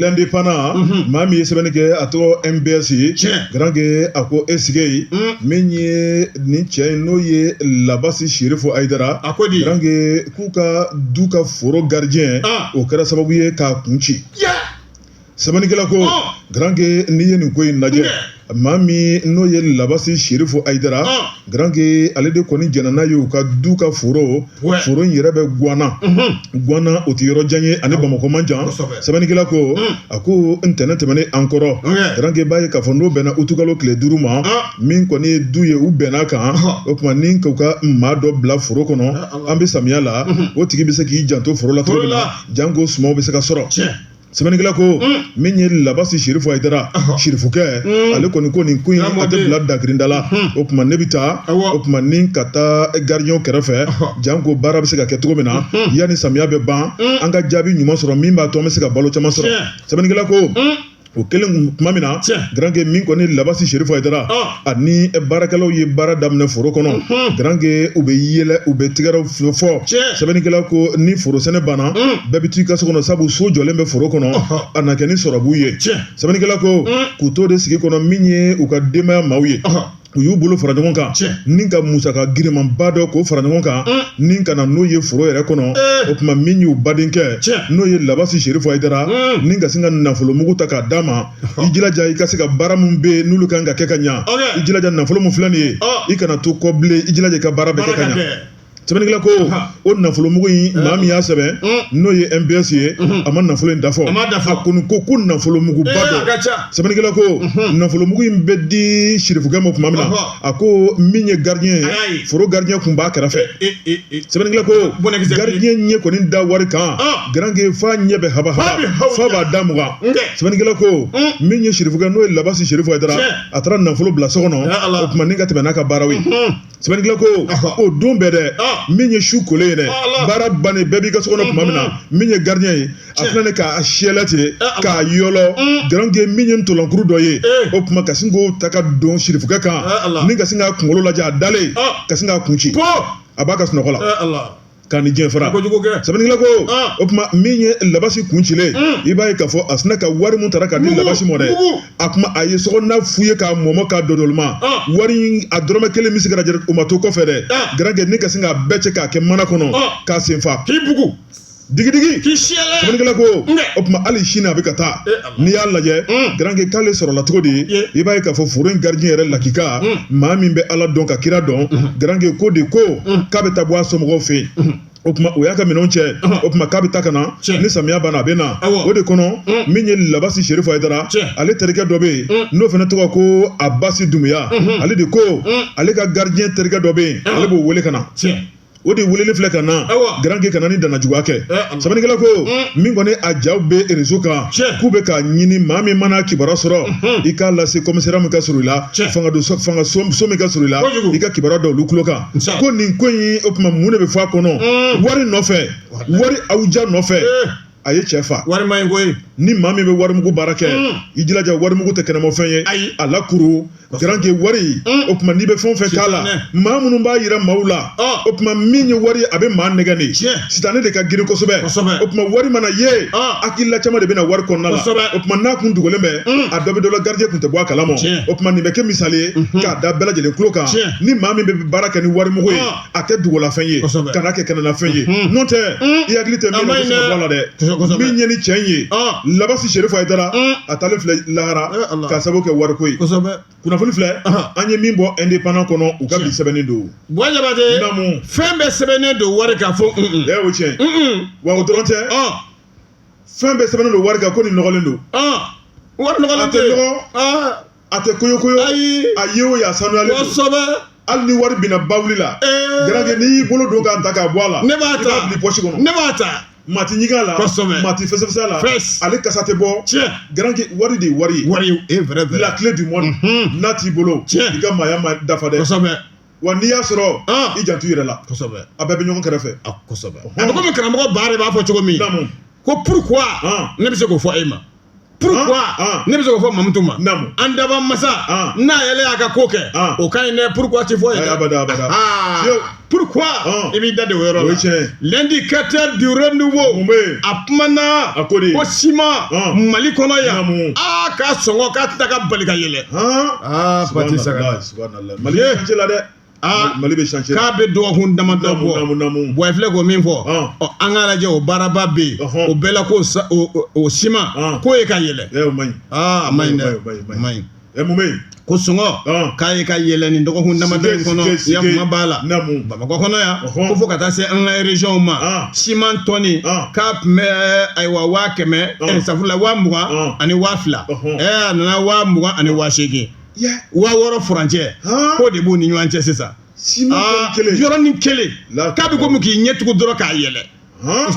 l'Indépendant na maa min ye sɛbɛnni kɛ a tɔgɔ MBS ye garankɛ a ko e sigi min ye nin cɛ in n'o ye Labasi Sherifu Ayidara garankɛ k'u ka du ka foro gardien o kɛra sababu ye k'a kun ci Sɛbɛnnikɛla ko garankɛ n'i ye nin ko in lajɛ maa min n'o ye Labasi Sherifu Ayidara garankɛ ale de kɔni jɛnna n'a ye u ka du ka foro foro in yɛrɛ bɛ Gwana Gwana o tɛ yɔrɔ jan ye ani Bamakɔ man jan sɛbɛnnikɛla ko a ko ntɛnɛn tɛmɛnen an kɔrɔ garankɛ b'a ye k'a fɔ n'o bɛnna utukalo tile duuru ma min kɔni ye du ye u bɛnn'a kan o tuma ni k'u ka maa dɔ bila foro kɔnɔ an bɛ samiya la o tigi bɛ se k'i janto foro la cogo min na janko suma bɛ se ka sɔrɔ sɛbɛnnikɛla ko min ye Labasi Sherifu Ayidara Sherifukɛ ale kɔni ko nin ko in a tɛ bila dakirinda la o tuma ne bɛ taa o tuma ni ka taa garidiɲɛw kɛrɛfɛ janko baara bɛ se ka kɛ cogo min na yanni samiya bɛ ban an ka jaabi ɲuman sɔrɔ min b'a to an bɛ se ka balo caman sɔrɔ sɛbɛnnikɛla ko o kɛlen tuma min na garankɛ min kɔni Labasi Sherifu Ayidara ani baarakɛlaw ye baara daminɛ foro kɔnɔ garanke u bɛ yɛlɛ u bɛ tigɛrɛw fɔ sɛbɛnnikɛla ko ni foro sɛnɛ banna bɛɛ bɛ t'i ka so kɔnɔ sabu so jɔlen bɛ foro kɔnɔ a na kɛ ni sɔrɔbu ye sɛbɛnnikɛla ko k'u to de sigi kɔnɔ min ye u ka denbaya maaw ye u y'u bolo fara ɲɔgɔn kan ni ka musaka girinmanba dɔ k'o fara ɲɔgɔn kan ni ka na n'o ye foro yɛrɛ kɔnɔ o tuma min y'u badenkɛ n'o ye labasi sirifu ayidara ni ka se ka nafolomugu ta k'a d'a ma i jilaja i ka se ka baara min bɛ yen n'olu kan ka kɛ ka ɲa i jilaja nafolo min filɛ nin ye i kana to kɔ bilen i jilaja i ka baara bɛ kɛ ka ɲa sɛbɛnnikɛla ko o nafolomugu in maa min y'a sɛbɛn n'o ye MBS ye a ma nafolo in dafɔ a kɔni ko ko nafolomuguba don sɛbɛnnikɛla ko nafolomugu in bɛ di sirifukɛ ma tuma min na a ko min ye gardien ye Ayi, ayi. foro gardien kun b'a kɛrɛfɛ e e e sɛbɛnnikɛla ko Bɔnɛkisɛ bilen. gardien ɲɛ kɔni da wari kan Ah. garanke f'a ɲɛ bɛ haba F'a bɛ haba hawu f'a b'a da mugan Nkɛ. sɛbɛnnikɛla ko Mm. min ye sirifukɛ n'o ye labasi sirifu ayidara Tiɲɛ. a taara nafolo bila so kɔnɔ Ya Ala. o tuma ni ka tɛmɛ n'a ka baaraw ye Mhm. sɛbɛnnikɛla ko Aha. o don bɛɛ dɛ Ah. min ye su kolen ye dɛ Ya Ala. baara bannen bɛɛ b'i ka so kɔnɔ tuma min na min ye gardien ye a filɛ k'a siyɛlɛ ten k'a yɔlɔ garanke min ye ntɔlankuru dɔ ye o tuma ka sin k'o ta ka don sirifukɛ kan ni ka sin k'a kunkolo lajɛ a dalen ka sin k'a kun ci a b'a ka sunɔgɔ la k'a ni diɲɛ fara sɛbɛnnikɛla ko o tuma min ye labasi kun cilen i b'a ye k'a fɔ a sinna ka wari min tara ka di labasi ma dɛ a kuma a ye sokɔnɔna fouillé k'a mɔmɔ k'a dodolima wari a dɔrɔmɛ kelen bɛ se ka o ma to kɔfɛ dɛ garanke ni ka sin k'a bɛɛ cɛ k'a kɛ mana kɔnɔ k'a sen fa k'i bugu digidigi k'i siyɛlɛ sɛbɛnnikɛla ko Nka. o tuma hali sini a bɛ ka taa E Ala. n'i y'a lajɛ Mm. garanke k'ale sɔrɔla cogo di Ye. i b'a ye k'a fɔ foro in gardien yɛrɛ lakika Mm. maa min bɛ ala dɔn ka kira dɔn garanke ko de ko k'a bɛ taa bɔ a somɔgɔw fɛ yen o tuma o y'a ka minɛnw cɛ o tuma k'a bɛ taa ka na Cɛ. ni samiya banna a bɛ na Awɔ. o de kɔnɔ Mm. min ye labasi sirifu ayidara Cɛ. ale terikɛ dɔ bɛ yen Mm. n'o fana tɔgɔ ko abasi dumuya ale de ko ale ka gardien terikɛ dɔ bɛ yen ale b'o wele ka na Tiɲɛ. o de welelen filɛ ka na garanke ka na ni dannajuguya kɛ sɛbɛnnikɛla ko min kɔni a jaw bɛ rezo kan k'u bɛ k'a ɲini maa min mana kibaruya sɔrɔ i k'a lase kɔmisariya min ka surun i la fangaso min ka surun i la i ka kibaruya da olu tulo kan ko nin ko in o tuma mun de bɛ fɔ a kɔnɔ wari nɔfɛ wari awja nɔfɛ a ye cɛ fa wari ma ye koyi ni maa min bɛ warimugu baara kɛ mm. i jilaja warimugu tɛ kɛnɛmafɛn ye ayi a lakuru garanke wari mm. o tuma n'i bɛ fɛn o fɛn k'a la maa minnu b'a yira maaw la ah. o tuma min ye wari a bɛ maa nɛgɛ de sitanɛ de ka girin kosɛbɛ o tuma wari mana ye ah. hakilila caman de bɛna wari kɔnɔna la o tuma n'a kun dogolen bɛ mm. a dɔ bɛ dɔ la gardien kun tɛ bɔ a kalama o tuma nin bɛ kɛ misali ye mhm. k'a da bɛɛ lajɛlen tulo kan ni maa min bɛ baara kɛ ni warimugu ye ah. a kɛ dugulafɛn ye Kosɛbɛ. kana kɛ kɛnɛlafɛn ye Mhm. n'o tɛ Mhm. i hakili tɛ A min ma na ɲi dɛ. sɔrɔ la dɛ Kosɛbɛ, kosɛbɛ. min ye nin cɛ ye Ɔn. labasi serifu hayidara Mhm. a taalen filɛ lahara Eh, Allah. k'a sababu kɛ wariko ye kosɛbɛ kunnafoni filɛ Ahan. an ye min bɔ indépendant kɔnɔ u ka bi Tiɲɛ. sɛbɛnnen don buwa jabate Namu. fɛn bɛɛ sɛbɛnnen don wari kan fo un un. ɛ o tiɲɛ un un. wa o dɔrɔn tɛ ɔn fɛn bɛɛ sɛbɛnnen don wari kan ko nin nɔgɔlen don ɔn wari nɔgɔlen A tɛ tɛ nɔgɔ. ɔn a tɛ koyo koyo ayi a ye o ye a sanuyalen don kosɛbɛ hali ni wari binna bawuli la ee garanke n'i y'i bolo don k'a ta k'a bɔ a la ne b'a i ta b'a bila pɔsi kɔnɔ ne b'a ta maa tɛ ɲigin a la Kosɛbɛ. maa tɛ fɛsɛfɛsɛ a la Fɛs. ale kasa tɛ bɔ tiɲɛ garanke wari de ye wari ye wari e vrai vrai la clé du monde Mhm. n'a t'i bolo Tiɲɛ. i ka maaya ma dafa dɛ kosɛbɛ wa n'i y'a sɔrɔ Ah. i janto i yɛrɛ la kosɛbɛ a bɛɛ bɛ ɲɔgɔn kɛrɛfɛ a kosɛbɛ a bɛ komi karamɔgɔ baara b'a fɔ cogo min Naamu. ko pourquoi Ah. ne bɛ se k'o fɔ e ma pourquoi ah, ah. ne bɛ se k'o fɔ mamutu ma an daba masa ah. n'a yɛrɛ y'a ka ko kɛ o ka ɲi dɛ pourquoi ti fɔ yen dɛ pourquoi i b'i da de o yɔrɔ la l'indicateur du renouveau a kumana ko siman mali kɔnɔ yan aa k'a sɔngɔ k'a tɛ ka bali ka yɛlɛ aa pati saga mali bɛ changer la dɛ aa Mali bɛ changer k'a bɛ dɔgɔkun damadɔ Naamu, naamu, bɔ naamu. bon i filɛ k'o min fɔ Ɔn. ɔ an k'a lajɛ o baaraba bɛ yen Ɔhɔn. o bɛɛ la k'o sa- o- o- o siman Ɔn. k'o ye ka yɛlɛ ɛ o man ɲi aa a ma ɲi dɛ O man ɲi, o man ɲi. a ma ɲi ɛ mun bɛ yen ko sɔngɔ Ɔn. k'a ye ka yɛlɛ nin dɔgɔkun damadɔ in Sike, kɔnɔ sike, sike. ya kuma b'a la Naamu. bamakɔ kɔnɔ yan Ɔhɔn. ko fo ka taa se an ka régionw ma Ɔn. siman tɔni Ɔn. k'a tun bɛ ayiwa waa kɛmɛ Ɔn. ɛ, safurula waa mugan Ɔn. ani waa fila Ɔhɔn. ɛ a nana waa mugan ani waa seegin waa wɔɔrɔ furancɛ k'o de b'u ni ɲɔgɔn cɛ sisan yɔrɔnin kelen k'a bɛ komi k'i ɲɛ tugu dɔrɔn k'a yɛlɛ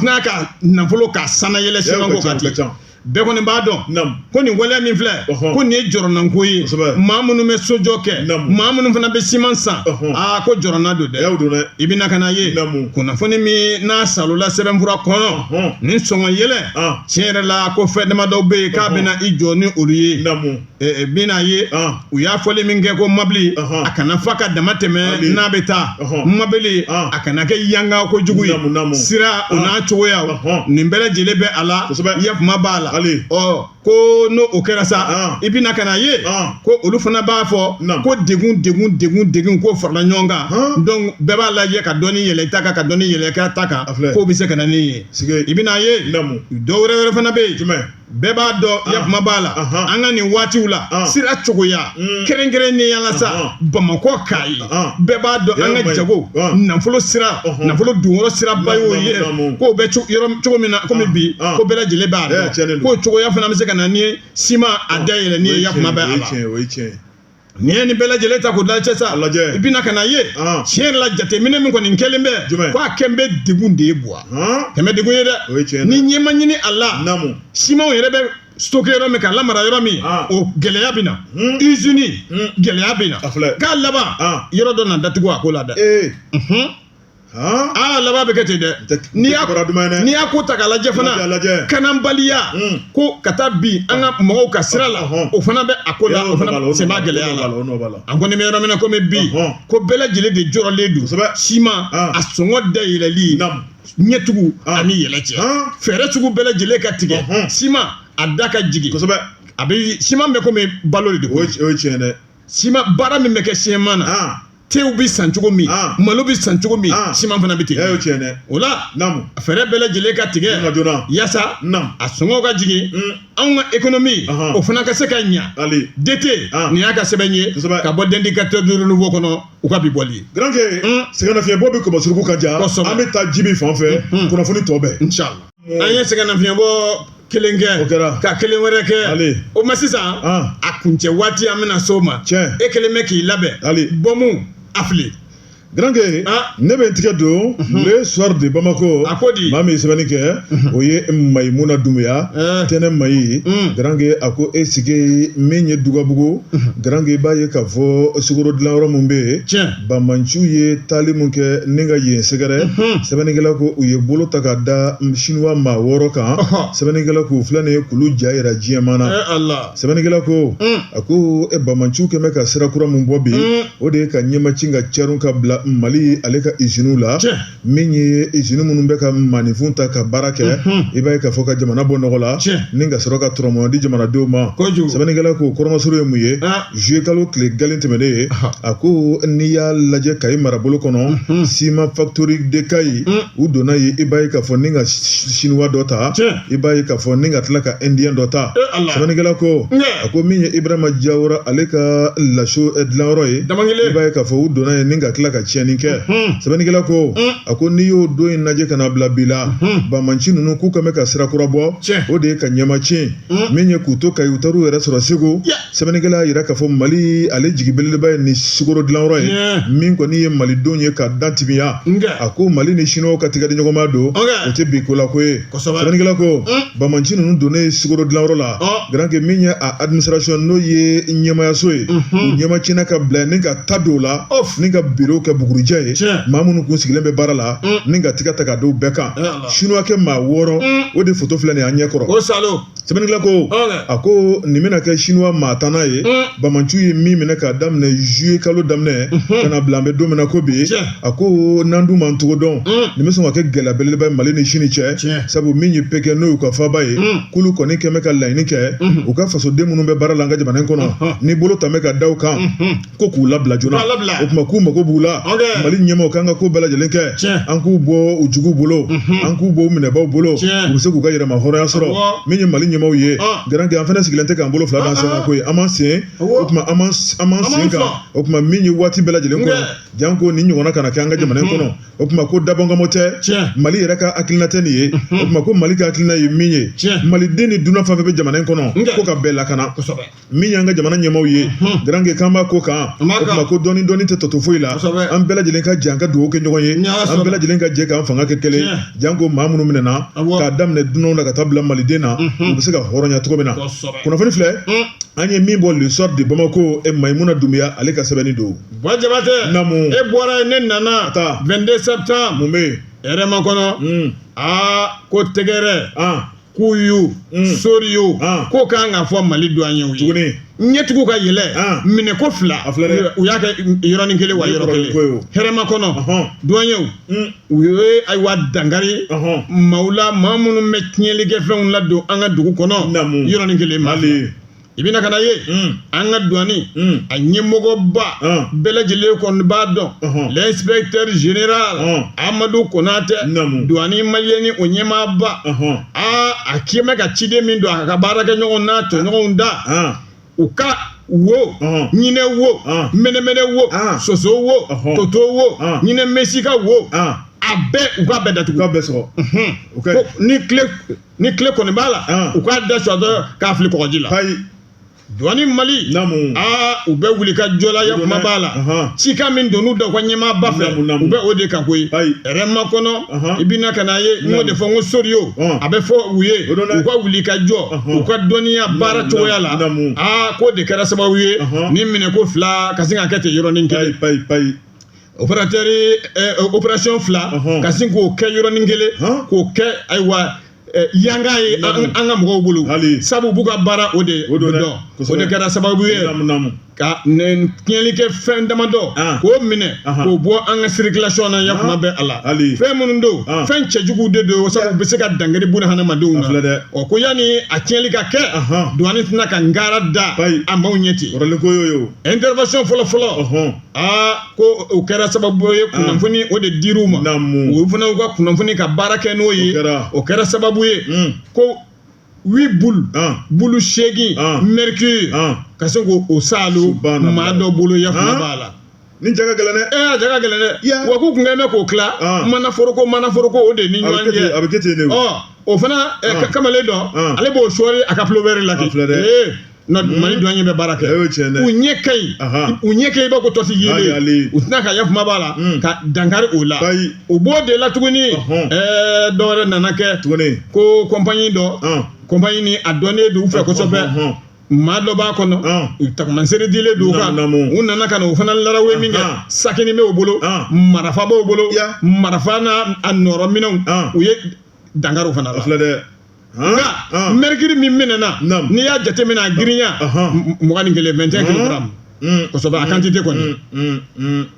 n'a ka nafolo ka sanayɛlɛ siman ko kan ten bɛɛ kɔni b'a dɔn ko nin waleya min filɛ ko nin ye jɔrɔnanko ye maa minnu bɛ sojɔ kɛ maa minnu fana bɛ siman san aa ko jɔrɔnan don dɛ i bɛna ka na ye kunnafoni min n'a salola sɛbɛnfura kɔnɔ nin sɔngɔ yɛlɛ tiɲɛ yɛrɛ la ko fɛn damadɔ bɛ yen k'a bɛna i jɔ ni olu ye bɛna a ye u y'a fɔli min kɛ ko mɔbili a kana fa ka dama tɛmɛ n'a bɛ taa mɔbili a kana kɛ yanga kojugu ye sira o n'a cogoya nin bɛɛ lajɛlen bɛ a la ya kuma b'a la ko n'o o kɛra sa i bɛna ka na ye ko olu fana b'a fɔ ko degun degun ko farala ɲɔgɔn kan donc bɛɛ b'a lajɛ ka dɔɔni yɛlɛ ta kan ka dɔɔni yɛlɛ ta kan k'o bɛ se ka na ni ye i bɛna a ye dɔw wɛrɛ wɛrɛ fana bɛ yen jumɛn bɛɛ b'a dɔn ah. yakuma b'a la an ka nin waatiw la ah. sira cogoya mm. kɛrɛnkɛrɛnnenya la sa bamakɔ kayi bɛɛ b'a dɔn an ka jago nafolo sira nafolo donyɔrɔ siraba y'o ye k'o bɛ yɔrɔ cogo min na komi bi ko bɛɛ lajɛlen b'a dɔn k'o cogoya fana bɛ se ka na ni siman a da yɛlɛnni ye yakuma bɛ a la N'i ye nin bɛɛ lajɛlen ta k'o dalajɛ sa i bɛna ka na ye tiɲɛ yɛrɛ la jateminɛ min kɔni kɛlen bɛ ko a kɛ bɛ degun de ye bon a kɛ bɛ degun ye dɛ ni ɲɛ ma ɲini a la simanw yɛrɛ bɛ stocké yɔrɔ min k'a lamara yɔrɔ min o gɛlɛya bɛ na izini gɛlɛya bɛ na k'a laban yɔrɔ dɔ na datugu a ko la dɛ aa laban bɛ kɛ ten dɛ n'i y'a duman n'i y'a ko ta k'a lajɛ fana lakanabaliya ko ka taa bin an ka mɔgɔw kan sira la o fana bɛ a ko la o fana sen b'a gɛlɛya la an kɔni bɛ yɔrɔ min na kɔmi bi ko bɛɛ lajɛlen de jɔrɔlen don kosɛbɛ siman a sɔngɔ dayɛlɛli ɲɛcogo a ni yɛlɛ cɛ fɛɛrɛ sugu bɛɛ lajɛlen ka tigɛ siman a da ka jigin kosɛbɛ a bɛ siman bɛ kɔmi balo de don o ye tiɲɛ dɛ siman baara min bɛ kɛ siman na tew bɛ san cogo min ah. malo bɛ san cogo min ah. siman fana bɛ ten eh, tiɲɛ dɛ o la fɛɛrɛ bɛɛ lajɛlen ka tigɛ yaasa a sɔngɔ ka jigin mm. anw ka ekonomi o fana ka se ka ɲa dete ah. nin y'a ka sɛbɛn ye ka bɔ L'Indicateur du Renouveau kɔnɔ u ka bi bɔli ye Garanke mm. sɛgɛnnafiɲɛbɔ bɛ kɔmɔ suruku ka ja an bɛ taa Jibi fan fɛ mm. kunnafoni tɔ bɛɛ an ye sɛgɛnnafiɲɛbɔ kelen kɛ o kɛra ka kelen wɛrɛ kɛ ale o ma sisan a kuncɛ waati an bɛna s'o ma tiɲɛ e kelen bɛ k'i labɛn ale bɔnmu a fili Garanke ne bɛ n tigɛ don mhm. le soir de Bamako a ko di maa min ye sɛbɛnni kɛ mhm. o ye Mayimuna Dunbuya eh. tɛnɛ Mayi mm. Garanke a ko e sigi min ye Dugabugu mhm. Garanke i b'a ye k'a fɔ sukaro dilanyɔrɔ min bɛ yen Banbaanciw ye taali min kɛ ni ka yen sɛgɛrɛ sɛbɛnnikɛla ko u ye bolo ta ka da siniwa maa wɔɔrɔ kan sɛbɛnnikɛla k'u filɛ nin ye k'olu ja jira diɲɛmaa na sɛbɛnnikɛla ko a ko banbaanciw kɛlen bɛ ka sira kura min bɔ bi o de ye ka ɲɛmacin ka cɛrun ka bila Mali ale ka iziniw la min ye izini minnu bɛ ka maaninfin ta ka baara kɛ i b'a ye k'a fɔ ka jamana bɔ nɔgɔ la ni ka sɔrɔ ka dɔrɔmɛ di jamanadenw ma sɛbɛnnikɛla k'o kɔrɔmasuru ye mun ye zuye kalo tile galen tɛmɛnen ye a ko n'i y'a lajɛ Kayi marabolo kɔnɔ Siman Factory de Kayi u donna yen i b'a ye k'a fɔ ni ka siniwa dɔ ta i b'a ye k'a fɔ ni ka tila ka indien dɔ ta sɛbɛnnikɛla ko a ko min ye Ibrahima Jawara ale ka laso dilanyɔrɔ ye i b'a ye k'a fɔ u donna yen ni ka tila ka tiɲɛni kɛ sɛbɛnnikɛla ko a ko n'i y'o don in lajɛ ka na bila bi la banbaanci ninnu k'u ka bɛ ka sira kura bɔ o de ye ka ɲɛmacin min ye k'u to Kayi u taar'u yɛrɛ sɔrɔ Segu sɛbɛnnikɛla y'a jira k'a fɔ Mali ale jigi belebeleba ye nin sukaro dilanyɔrɔ ye min kɔni ye malidenw ye ka da timiya a ko Mali ni siniwa ka tigɛ di ɲɔgɔnma don o tɛ bi ko la ko ye Sɛbɛnnikɛla ko banbaanci ninnu donnen sukaro dilanyɔrɔ la Garanke min ye a administration n'o ye ɲɛmaayaso ye u ɲɛmacinna ka bila ni ka ta don o la ni ka birow kɛ bugurijɛ ye maa minnu tun sigilen bɛ baara la ni ka tigɛ ta ka d'o bɛɛ kan siniwakɛ maa wɔɔrɔ o de foto filɛ nin an ɲɛ kɔrɔ o sa Sɛbɛnnikɛla ko a ko nin bɛna kɛ siniwa maa tan ye banbaanciw ye min minɛ k'a daminɛ zuye kalo daminɛ ka na bila an bɛ don min na ko bi a ko n'an dun m'an cogo dɔn nin bɛ sɔn ka kɛ gɛlɛya belebeleba mali ni sini cɛ sabu min ye pekɛn n'o y'u ka faaba ye k'olu kɔni tun bɛ ka laɲini kɛ u ka fasoden minnu bɛ baara la an ka jamana in kɔnɔ ni bolo tun bɛ ka da u kan ko k'u labila joona K'u labila. o tuma k'u mago b'u la Ok. mali ɲɛmaaw k'an ka ko bɛɛ lajɛlen kɛ Tiɲɛ. an k'u bɔ u juguw bolo an k'u bɔ u minɛbaaw bolo Tiɲɛ. u bɛ se k'u ka yɛrɛmahɔrɔnya sɔrɔ Awɔ. min ye mali ɲɛmaaw ye Ah. garankɛ an fana sigilen tɛ k'an bolo fila d'an sen kan koyi an m'an sen Awɔ. o tuma an m'an s- an m'an An m'an sen kan fa. o tuma min ye waati bɛɛ lajɛlen kɔnɔ Nka. janko nin ɲɔgɔnna kana kɛ an ka jamana in kɔnɔ o tuma ko dabɔnkama tɛ Tiɲɛ. mali yɛrɛ ka hakilina tɛ nin ye o tuma ko mali ka hakilina ye min ye Tiɲɛ. maliden ni dunan fɛn fɛn bɛ jamana in kɔnɔ Nka. ko ka bɛɛ lakana Kosɛbɛ. min y'an ka jamana ɲɛmaaw ye garankɛ k'an b'a ko kan o tuma ko dɔɔni dɔɔni tɛ tɔ to foyi la an bɛɛ lajɛlen ka jɛ an ka dugawu kɛ ɲɔgɔn ye an bɛɛ lajɛlen ka jɛ k'an fanga kɛ kelen janko maa minnu minɛna k'a daminɛ dunanw la ka taa bila maliden na u bɛ se ka hɔrɔnya cogo min na kunnafoni filɛ an ye min bɔ le soir de bamakɔ e mayimuna dunbuya ale ka sɛbɛnni don jabatɛ naamu e bɔra ne nana 22 septembre mun bɛ hɛrɛmakɔnɔ aa ko tɛgɛrɛ k'u y'u mm. sori yo ah. k'o kan ka fɔ mali duwanyew ye ɲɛ tugu k'a yɛlɛ ah. minɛko fila u y'a kɛ yɔrɔnin kelen wa yɔrɔ kelen hɛrɛmakɔnɔ duwanyew mm. u ye ayiwa dankari maaw la maa minnu bɛ tiɲɛlikɛfɛnw ladon an ka dugu kɔnɔ yɔrɔnin kelen ma i bɛna ka n'a ye an ka duwani a ɲɛmɔgɔba bɛɛ lajɛlen kɔni b'a dɔn l'inspecteur général amadu konatɛ duwani maliyɛni o ɲɛmaaba aa a tun bɛ ka ci de min don a ka baarakɛɲɔgɔn n'a tɔɲɔgɔnw da u ka wo ɲinɛ wo mɛnɛmɛnɛ wo soso wo toto wo ɲinɛ misika wo a bɛɛ u ka bɛɛ datugu bɛɛ sɔgɔ ni kile ni kile kɔni b'a la u k'a da sɔgɔ k'a fili kɔgɔji la duwani mali u bɛ wulikajɔ la ya kuma b'a la cikan min don u da u ka ɲɛmaaba fɛ u bɛ o de kan koyi hɛrɛmakɔnɔ i bɛna ka n'a ye n y'o de fɔ n ko sori o a bɛ fɔ u ye u ka wulikajɔ u ka dɔnniya baara cogoya la aa k'o de kɛra sababu ye nin minɛko fila ka sin ka kɛ ten yɔrɔnin kɛ operatɛri opération eh, fila ka sin k'o kɛ yɔrɔnin kelen k'o kɛ ayiwa eh, yanga ye an ka mɔgɔw bolo sabu b'u ka baara o de dɔn o de kɛra sababu ye ka tiɲɛlikɛfɛn damadɔ ah. k'o minɛ ah. k'o bɔ an ka sirikilasiyɔn na ya kuma ah. bɛ a la fɛn minnu don fɛn cɛjuguw de don sabu u bɛ se ka dankari buna hadamadenw na ɔ ko yanni a tiɲɛli ka kɛ duwani tɛna ka ngara da a maaw ɲɛ ten intervention fɔlɔ fɔlɔ aa ko o kɛra sababu ye kunnafoni o de dir'u ma Naamu. o fana y'u ka kunnafoni ka baara kɛ n'o ye O kɛra. o kɛra sababu ye Mm. ko huit bulu Ah. bulu seegin Ah. mercure Ah. ka se k'o o saalo Subhanallah. maa dɔ bolo yafama Ah. b'a la nin ja ka gɛlɛn dɛ ee a ja ka gɛlɛn dɛ Ya. wa k'u kun kɛn bɛ k'o tila Ah. manaforoko manaforoko o de ni a bɛ ɲɔgɔn kɛ ten a cɛ bɛ kɛ ten de o. ɔ o fana eh, Ah. ka- kamalen dɔ Ah. ale b'o sɔɔri a ka pulɔvɛri la An filɛ dɛ. Ee, na mali duwaɲɛ bɛ baara kɛ o ɲɛ ka ɲi u ɲɛ ka ɲi i b'a ko tɔsi yeelen u tɛna ka yafama b'a la ka dankari o la u b'o de la tuguni ɛɛ dɔ wɛrɛ nana kɛ tuguni ko compagnie dɔ compagnie nin a dɔnnen don u fɛ kosɛbɛ maa dɔ b'a kɔnɔ u tagamasere dilen don kan u nana ka na o fana larawe min kɛ sakini b'o bolo marifa b'o bolo marifa n'a nɔrɔ minɛnw u ye dankari o fana la filɛ dɛ nka mɛrikiri min minɛna n'i y'a jateminɛ a girinya mugan ni kelen vingt et un kilogaramu kosɛbɛ a kantite kɔni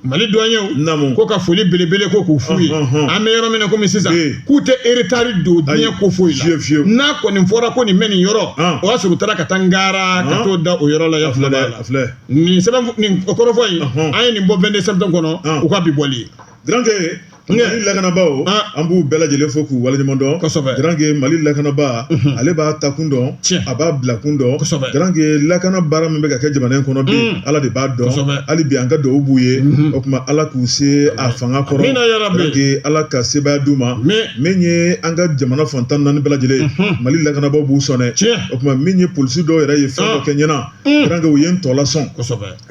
mali duwaɲɛw ko ka foli belebele ko k'u f'u ye an bɛ yɔrɔ min na komi sisan k'u tɛ eretari don diɲɛ ko foyi la n'a kɔni fɔra ko nin bɛ nin yɔrɔ o y'a sɔrɔ u taara ka taa n gaara ka t'o da o yɔrɔ la ya fila la nin sɛbɛn nin kɔrɔfɔ in an ye nin bɔ vingt-deux septembre kɔnɔ u ka bi bɔli ye mali lakanabaaw an b'u bɛɛ lajɛlen fo k'u waleɲuman dɔn garanke mali lakanabaa ale b'a takun dɔn a b'a bilakun dɔn garanke lakana baara min bɛ ka kɛ jamana in kɔnɔ bi ala de b'a dɔn hali bi an ka dugawu b'u ye o tuma ala k'u se a fanga kɔrɔ ala ka sebaaya d'u ma min ye an ka jamana fan tan ni naani bɛɛ lajɛlen mali lakanabaaw b'u sɔn dɛ o tuma min ye polisi dɔw yɛrɛ ye fɛn dɔ kɛ ɲɛna u ye n tɔ lasɔn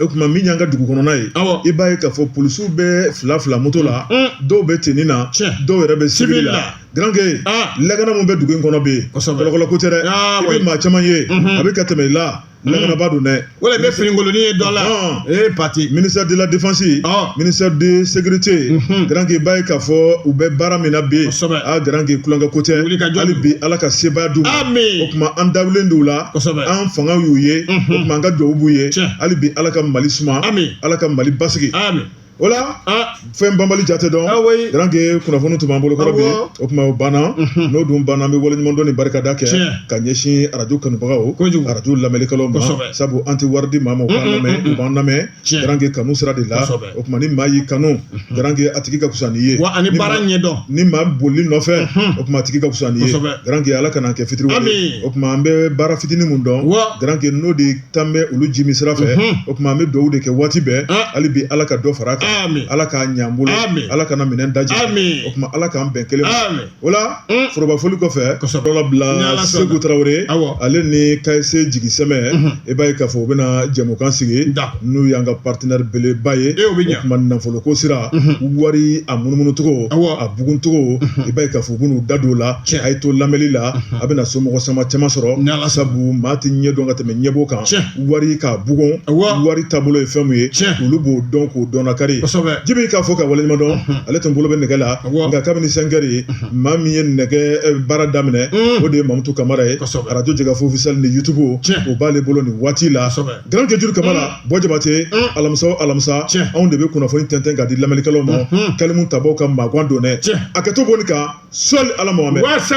o tuma min y'an ka dugu kɔnɔna ye i b'a ye k'a fɔ polisiw bɛ fila fila moto la dɔw bɛ teni na dɔw yɛrɛ bɛ sivili la garanke lakana min bɛ dugu in kɔnɔ bi kɔlɔkɔlɔ ko tɛ dɛ i bɛ maa caman ye a bɛ ka tɛmɛ i la lakanabaa don dɛ i bɛ finikolon ye dɔ la ee pati ministre de la défense ministre de sécurité garanke i b'a ye k'a fɔ u bɛ baara min na bi garanke tulonkɛ ko tɛ hali bi ala ka sebaaya d'u ma o tuma an dalen don u la kosɛbɛ an fanga y'u ye o tuma an ka dugawu b'u ye hali bi ala ka mali suma ala ka mali basigi o la fɛn banbali jate dɔn garanke kunnafoni tun b'an bolo kɔrɔ bi o tuma o banna n'o dun banna an bɛ waleɲumandɔn ni barikada kɛ ka ɲɛsin arajo kanubagaw arajo lamɛnnikɛlaw ma sabu an tɛ wari di maa ma u b'an lamɛn u b'an lamɛn garankɛ kanu sira de la o tuma ni maa y'i kanu garankɛ a tigi ka fisa n'i ye wa ani baara ɲɛdɔn ni maa bolil'i nɔfɛ o tuma a tigi ka fisa n'i ye garankɛ ala kan'an kɛ fitiri o tuma an bɛ baara fitinin min dɔn garankɛ n'o de tan bɛ olu ji min sira fɛ o tuma an bɛ dugawu de kɛ waati bɛɛ hali bi ala ka dɔ fara a kan ala k'a ɲa an bolo ala kana minɛn daji o tuma ala k'an bɛn kelen O la forobafoli kɔfɛ ka sɔrɔ bila segu tarawele ale ni caisse jigisɛmɛ i b'a ye k'a fɔ u bɛna jɛmukan sigi n'u y'an ka partenaire beleba ye e bɛ kuma nafolo ko sira wari a munumunucogo a buguncogo i b'a ye k'a fɔ u bɛn'u da don o la a ye to lamɛnni la a bɛna somɔgɔ sama caman sɔrɔ sabu maa tɛ ɲɛ dɔn ka tɛmɛ ɲɛbɔ kan wari k'a bugun wari taabolo ye fɛn min ye olu b'o dɔn k'o dɔnnakari jibi k'a fɔ ka waleɲuman dɔn ale tun bolo bɛ nɛgɛ la nka kabini cinq heures ye maa min ye nɛgɛ baara daminɛ o de ye mamutu kamara ye arajo jɛkafɔ officiel ni yutubu o b'ale bolo nin waati la garankejuru kamara bɔ jabate alamisa o alamisa anw de bɛ kunnafoni tɛntɛn k'a di lamɛnnikɛlaw ma kalimutabaw ka magan don dɛ a kɛ to kɔni ka sɔli ala mahamadi sa